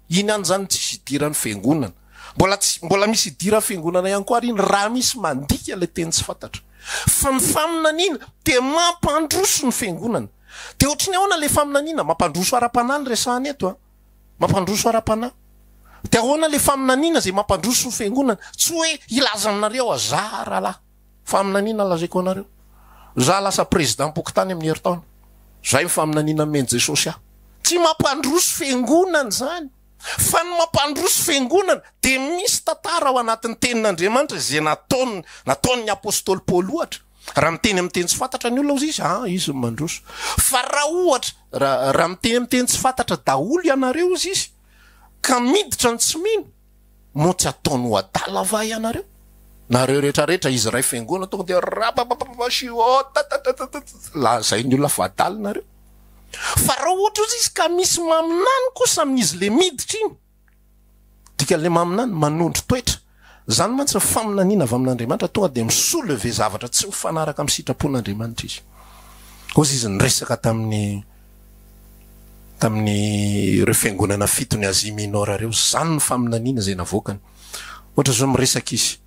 Inona izany tsisy hidiran'ny fiangonana? Mbola tsy, mbola misy hidiran'ny fiangonana ihany koa ary iny raha misy mandika ilay teny tsy fantatra. Fa ny faminaniana dia mampandroso ny fiangonana. Dia ohatry ny ahoana ilay faminaniana? Mampandroso ara-panahy no resahana eto an! Mampandroso ara-panahy. Dia ahoana ilay faminaniana izay mampandroso ny fiangonana? Tsy hoe hilaza aminareo aho, zara lahy. Faminaniana lazaiko anareo. Za lasa prezidam-pokontany amin'ny herintaona. Zay ny faminaniana nomen'i Jesosy ahy. Tsy mampandroso fiangonana izany. Fa ny mampandroso fiangonana dia misy tantara ao anatin'ny tenin'Andriamanitra izay nataony, nataon'ny apostoly Paoly ohatra. Raha miteny amin'ny teny tsy fantatra ny olona ozy izy, an, izy no mandroso. Fa raha ohatra, raha, raha miteny amin'ny teny tsy fantatra daholo ianareo ozy izy, ka miditra ny tsy mino, Moa tsy ataony ho adala va ianareo? Nareo rehetra rehetra izy iray fiangonana tonga dia rapapapapa shio tatatatatata lazain'ny olona fa adala nareo. Fa raha ohatra ozy izy ka misy maminany kosa amin'izy le miditra iny, dikan'le maminany manondro toetra, zany mantsy ny faminaniana avy amin'Andriamanitra tonga dia mi-soulever zavatra tsy mifanaraka amin'ny sitrapon'Andriamanitra izy. Ozy izy niresaka tamin'ny tamin'ireo fiangonana fitony Asia Minora ireo, izany no faminaniana izay navoakany. Ohatra izao miresaka izy,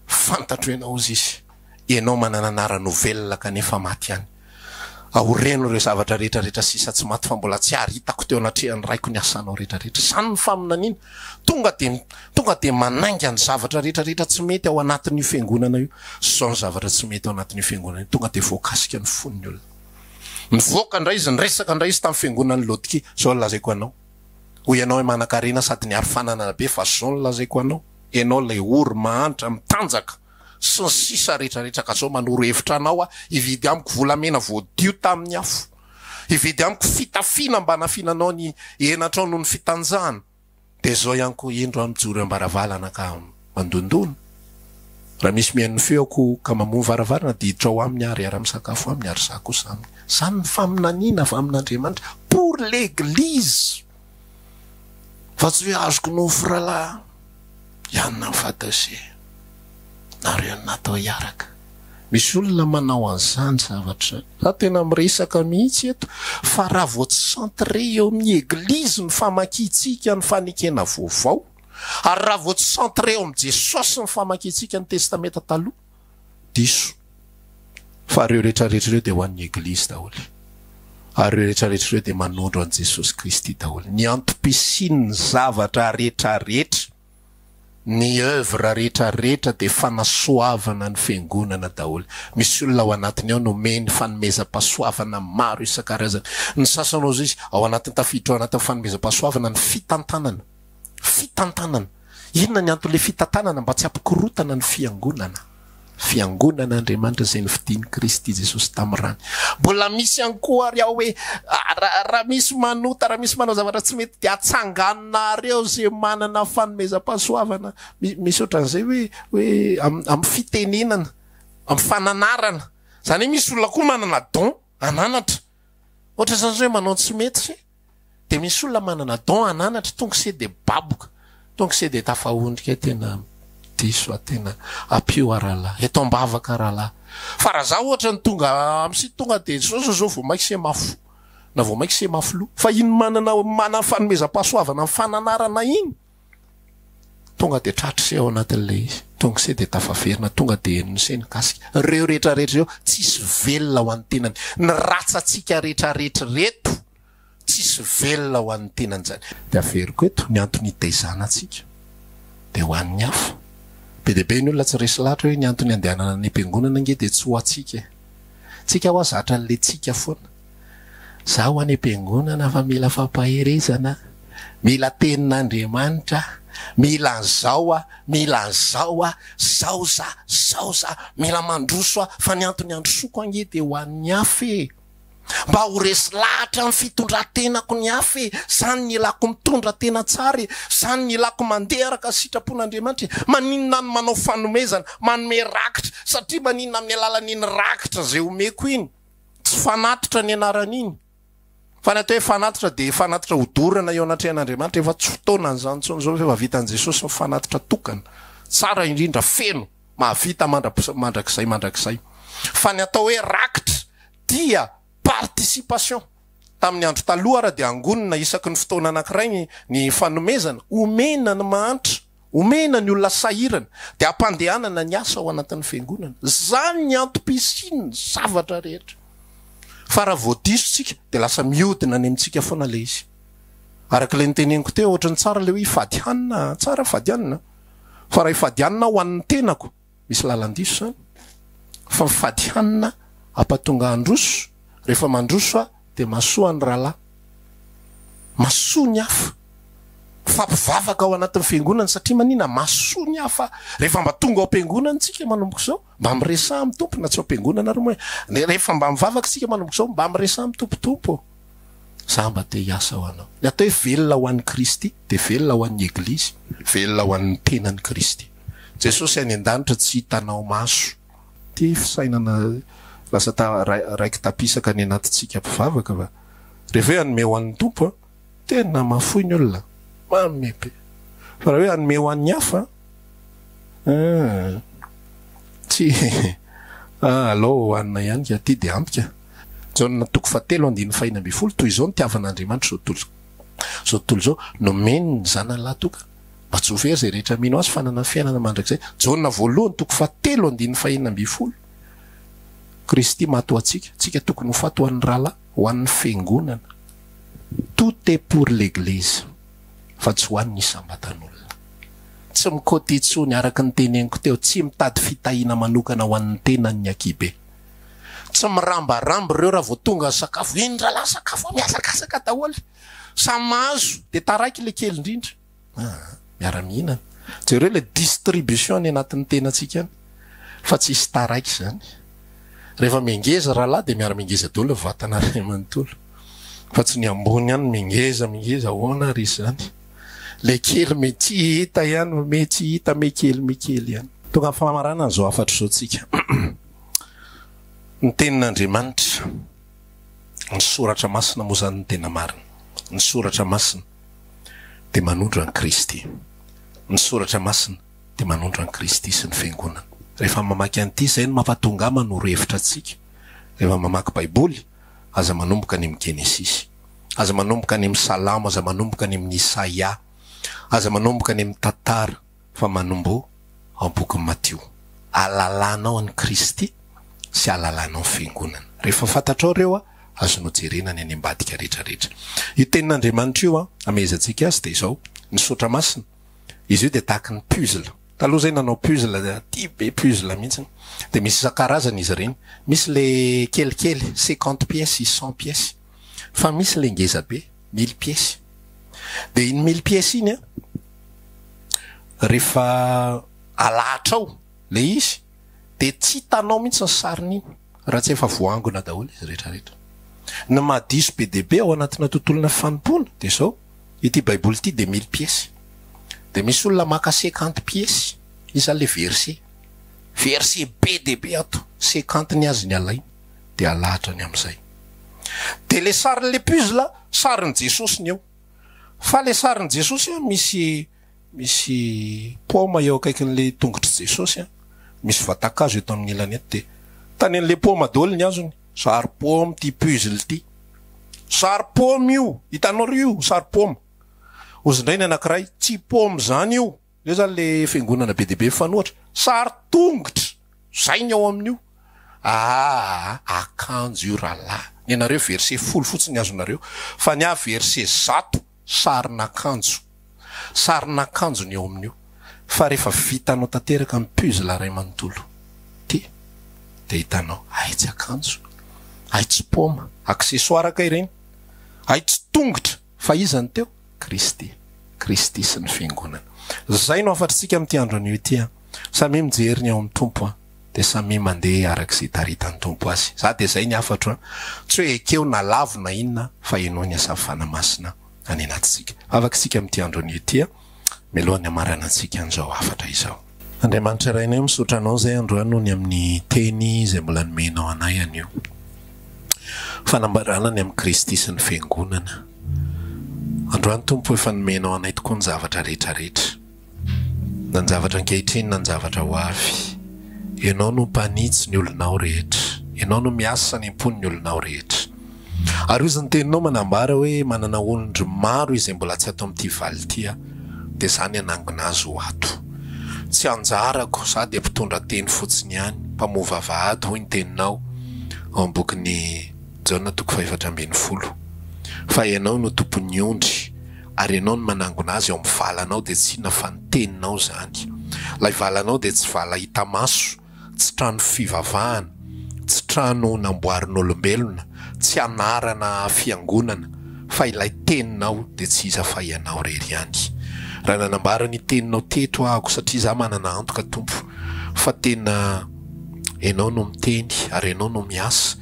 fantatro ianao hozy izy, ianao manana anarana ho velona kanefa maty ihany. Aoreno ireo zavatra rehetra rehetra sisa tsy maty fa mbola tsy ary hitako teo anatrehan'ny Raiko ny asanao rehetra rehetra. Izany no faminaniana. Tonga dia tonga dia manainga ny zavatra rehetra rehetra tsy mety ao anatin'io fiangonana io. Izao ny zavatra tsy mety ao anatin'io fiangonana io. Tonga dia voakasika ny fon'ny olona. Nivoaka indray izy, niresaka indray izy tamin'ny fiangonan'i Laodikia, izao no lazaiko anao, hoy ianao manan-karena sady niaro fananana be, fa izao no lazaiko anao, ianao ilay ory, mahantra, mitanjaka, sy ny sisa rehetrarehetra, ka izao manoro hevitra anao aho, hividy amiko volamena voadio tamin'ny afo, hividy amiko fitafiana mba hanafiananao ny henatrao noho ny fitanjahana. Dia zao ihany koa indro aho mijoro eo am-baravalana ka mandondona. Raha misy mihaino ny feoko ka mamoha ny varavarana dia hiditra ao aminy aho, riara-misakafo aminy ary za kosa aminy. Zany ny faminaniana avy amin'Andriamanitra pour l'Eglise fa tsy hoe azoko nofy ralahy hianina ny fadasy e! nareo no natao hiaraka. Misy olona manao an'izany zavatra. Za tena miresaka mihitsy eto fa raha vao tsy centre eo amin'ny eglizy ny famakiantsika ny fanekena vaovao ary raha vao tsy centre eo amin'i Jesosy ny famakiantsika ny testamenta taloha, diso. Fa ireo retraretra ireo dia ho an'ny eglizy daholo ary ireo retraretra ireo dia manondro an'i Jesosy Kristy daholo, ny antom-pisian'ny zavatra retraretra. Ny oeuvre rehetra rehetra dia fanasoavana ny fiangonana daholo. Misy olona ao anatiny ao nomeny fanomezam-pahasoavana maro isan-karazany. Ny sasany hoy izy, ao anatiny tafiditra ao anatin'ny fanomezam-pahasoavana ny fitantanana. Fitantanana! Inona ny anton'ilay fitantanana? Mba tsy hampikorontana ny fiangonana. Fiangonan'Andriamanitra izay nofidin'i Kristy Jesosy tamin'ny rany. Mbola misy ihany koa ary ao hoe, raha misy manota, raha misy manao zavatra tsy mety dia atsanganinareo izay manana fanomezam-pahasoavana. Misy ohatran'izay hoe, hoe amin'ny fitenenana, amin'ny fananarana. Izany hoe misy olona koa manana don hananatra. Ohatran'izany izao hoe manao ny tsy mety. Dia misy olona manana don hananatra tonga se dia baboka, tonga se dia tafahondrika tena diso a, tena ampio a rahalahy, eto ambavaka rahalahy. Fa raha za ohatra ny tonga am site tonga dia zao zao zao vao mainka se mafo na vao mainka se mafy loha. Fa iny manana manana fanomezam-pahasoavana ny fananarana iny. Tonga dia tratry se ao anatin'ilay izy. Tonga se dia tafaverina, tonga dia henony se ny kasika. Ireo rehetrarehetra ireo, tsisy velona ho an'ny tenany. Ny ratsantsika rehetrarehetra ireto, tsisy velona ho an'ny tenany izany. Dia averiko eto ny antony itaizana antsika, dia ho an'ny hafa. Be dia be ny olona tsy resy lahatra hoe ny antony andehanana any am-piangonana ange dia tsy ho antsika e. Tsika hoa zatra an'ilay tsika foana. Zaho any am-piangonana fa mila fampaherezana aho, mila tenin'Andriamanitra aho, mila an'izao aho, mila an'izao aho, zao za, zao za, mila mandroso aho fa ny antony androsoko ange dia ho an'ny hafa e! Mba ho resy lahatra amin'ny fitondran-tenako ny hafa e! Zany ny ilako mitondra tena tsara e! Zany ny ilako mandeha araka ny sitrapon'Andriamanitra e! Maninona aho no manao fanomezana, manome rakitra satria maninona amin'ny alalan'iny rakitra izay omeko iny? Tsy fanatitra ny anaran'iny. Fa ny atao hoe fanatitra dia fanatitra hodorana eo anatrehan'Andriamanitra. Efa tsy fotoanan'izany intsony izao fa efa vitan'i Jesosy ny fanatitra tokana, tsara indrindra, feno, mahavita mandra-, mandrakizay mandrakizay. Fa ny atao hoe rakitra dia participation. Tamin'ny Andro Taloha ary dia angonina isaky ny fotoana anankiray ny ny fanomezana. Omena ny mahantra. Omena ny olona sahirana dia ampandehanana ny asa ao anatin'ny fiangonana. Izany ny antom-pisian'ny zavatra rehetra. Fa raha vao diso isika dia lasa mihodina any amintsika foana ilay izy. Araka ilay noteneniko teo, ohatran'ny tsara ilay hoe hifady hanina an, tsara hifady hanina an, fa raha hifady hanina aho ho an'ny tenako, Misy lalan-diso zany fa mifady hanina ampatonga handroso rehefa mandroso ah de masoa ny ralah masoa ny hafa mifampivavaka ao anatin'ny fiangonana satria manina masoa ny hafa rehefa mba tonga ao am-piangonana tsika manomboka izao mba miresaha amin'ny tompo na tsy ao am-piangonana ary moa eh rehefa mba mivavaka tsika manomboka izao mba miresaha amin'ny tompo tompo ô za mba te hiasa ho anao ny atao hoe velona ho an'i Kristy de velona ho an'ny eglizy velona ho an'ny tenan'i Kristy Jesosy any an-danitra tsy hitanao maso. Ity fisainana lasa ta raiki-tapisaka any anatintsika mpivavaka va? Rehefa hoe hanome ho an'ny Tompo an! tena mahafoy ny olona an! manome be! fa raha hoe hanome ho an'ny hafa an! tsy an! alao hohanina ihany ka ity dia ampy ka! Jaona toko fahatelo andininy fahina ambin'ny folo, toy izao nitiavan'Andriamanitra izao tontolo izao, nomeny ny Zanany lahy tokana. Mba tsy ho very izay rehetra mino Azy fa hanana fiainana mandrakizay. Jaona voalohany toko faha telo andininy faha enina ambin'ny folo. Kristy maty ho antsika, tsika tokony ho faty ho an'ny rahalahy, ho an'ny fiangonana. Tout est pour l'Eglise fa tsy ho an'ny isam-batan'olona. Tsy mi-côté intsony, araka ny teneniko teo, tsy mitady fitahiana manokana ho an'ny tenany ny ankihibe. Tsy mirambaramby ireo raha vao tonga ny sakafo, eny rahalahy sakafo, mihazakazaka daholo. Samy mahazo dia taraiky ilay kely indrindra aa miara mihinana. Jereo ilay distribution any anatin'ny tenantsika any fa tsy hisy taraiky izany. Rehefa mengeza rahalahy dia miara mengeza daholo ny vatana ray manontolo fa tsy ny ambony ihany mengeza mengeza ahoana ary izany. Ilay kely me tsy hita ihany fa me tsy hita me kely me kely ihany. Tonga amin'ny famaranana izao hafatra izao tsika. Ny tenin'Andriamanitra. Ny Soratra Masina moa izany no tena marina. Ny Soratra Masina dia manondro an'i Kristy. Ny Soratra Masina dia manondro an'i Kristy sy ny Fiangonana. Rehefa mamaky an'ity, izay no mampatonga ahy manoro hevitra antsika rehefa mamaky Baiboly, aza manomboka any amin'ny Genesisy. Aza manomboka any amin'ny Salamo, aza manomboka any amin'ny Isaia. Aza manomboka any amin'ny Tantara. fa manombo ao am-bokin'i Matio, Alalànao an'i Kristy sy alalànao ny Fiangonana. Rehefa fantatrao ireo, azonao jerena ny any ambadika rehetrarehetra. Io Tenin'Andriamanitra io, hamehezantsika azy, dia izao, ny Sotra Masina. Izy io dia tahaka ny puzzle. Taloha izay nanao puzzle, tia be puzzle mihitsy, dia misy isan-karazany izy ireny. Misy ilay kelikely, cinquante pièces, cent pièces. fa misy ilay ngeza be, mille pièces. Dia iny mille pièces iny an, rehefa alahatra ao ilay izy dia tsy hitanao mihitsy ny sariny iny raha tsy efa voaangona daholo izy rehetrarehetra. Ny maha diso be dia be ao anatina tontolona fanompoana dia izao, ity Baiboly ity dia mille pièces. Dia misy olona maka cinquante pièces, izy izany ilay verset. Verset be dia be ato, cinquante ny azy ny alainy. dia halahatra ny amin'izay. Dia ilay sarin'ilay puzzle, sarin'i Jesosy ny eo. Fa ilay sarin'i Jesosy an, misy, misy paoma eo akaikin'ilay tongotr'i Jesosy an, misy vatan-kazo eto amin'ny ilany eto, dia tanin'ilay paoma daholo ny hazony. Sary paoma ity puzzle ity. Sary paoma io, hitanareo io sary paoma? Hozy indray ny anankiray, tsy paoma izany io. Eo zany le fiangonana be dia be mifanohatra, sary tongotra, zay ny ao amin'io, aah akanjo io rahalahy, nenareo verset folo fotsiny ny azonareo, fa ny ahy verset zato, sarin'akanjo, sarin'akanjo ny ao amin'io, fa rehefa vitanao tanteraka ny puzzle ray manontolo ity dia hitanao, hay tsy akanjo, hay tsy paoma, accessoire kay ireny, hay tsy tongotra, Fa iza no teo? Kristy. Kristy sy ny Fiangonana. Izay no hafatr'tsika amin'ity andro anio ity an! Samia mijery ny ao amin'ny Tompo an! Dia samia mandeha araka izay itaritan'ny Tompo azy. Za dia izay ny hafatro an! Tsy hoe ekeo na lavo na inona fa henoy ny hasavana masina any anatintsika. Vavaka isika amin'ity andro anio ity an! mialohan'ny hamaranantsika an'izao hafatra izao. Andriamanitra Rainay o, misaotra Anao izay androany ho ny amin'ny Teny izay mbola nomenao anay anio. Fanambarana ny amin'i Kristy sy ny Fiangonana. Androany Tompo efa nomenao anay tokoa ny zavatra rehetra rehetra, na ny zavatra ankehitriny na ny zavatra ho avy. Ianao no mpanitsy ny olonao rehetra. Ianao no miasa any am-pon'ny olonao rehetra. Ary hozy ny teninao manambara hoe manana olondry maro izay mbola tsy ato amin'ity valo ity aho, dia za ny hanangona azy ho ato. Tsy anjarako, za dia mpitondra teny fotsiny ihany, mpamoha vavahady hoy ny teninao ao amin'ny bokin'i Jaona toko fahefatra ambin'ny folo. Fa ianao no tompon'ny ondry ary ianao no manangona azy ao amin'ny valanao dia tsy inona fa ny teninao izany. Ilay valanao dia tsy vala hita maso tsy trano fivavahana, tsy trano namboarin'olombelona, tsy anarana fiangonana, fa ilay Teninao dia tsy iza fa Ianao irery ihany. Raha nanambara ny Teninao teto aho, satria izaho manana antoka, Tompo, fa tena Ianao no miteny ary Ianao no miasa,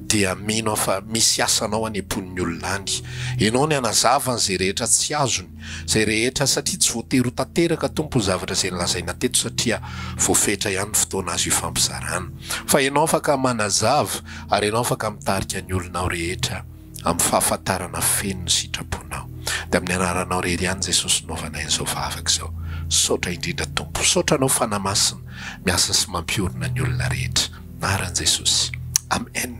dia mino aho fa misy asanao any am-pon'ny olona any. Ianao no hanazava an'izay rehetra tsy azony. Zay rehetra satria tsy voatery ho tanteraka Tompo ny zavatra zay nolazaina teto satria voafetra ihany ny fotoana azo ifampizarana. Fa Ianao afaka manazava ary Ianao afaka mitarika ny olonao rehetra amin'ny fahafantarana feno ny sitraponao. Dia amin'ny anaranao irery ihany Jesosy no hanaovanay an'izao vavaka izao. Misaotra indrindra Tompo. Misaotra Anao Fanahy Masina miasa sy mampiorina ny olona rehetra. Anaran'i Jesosy. Amen.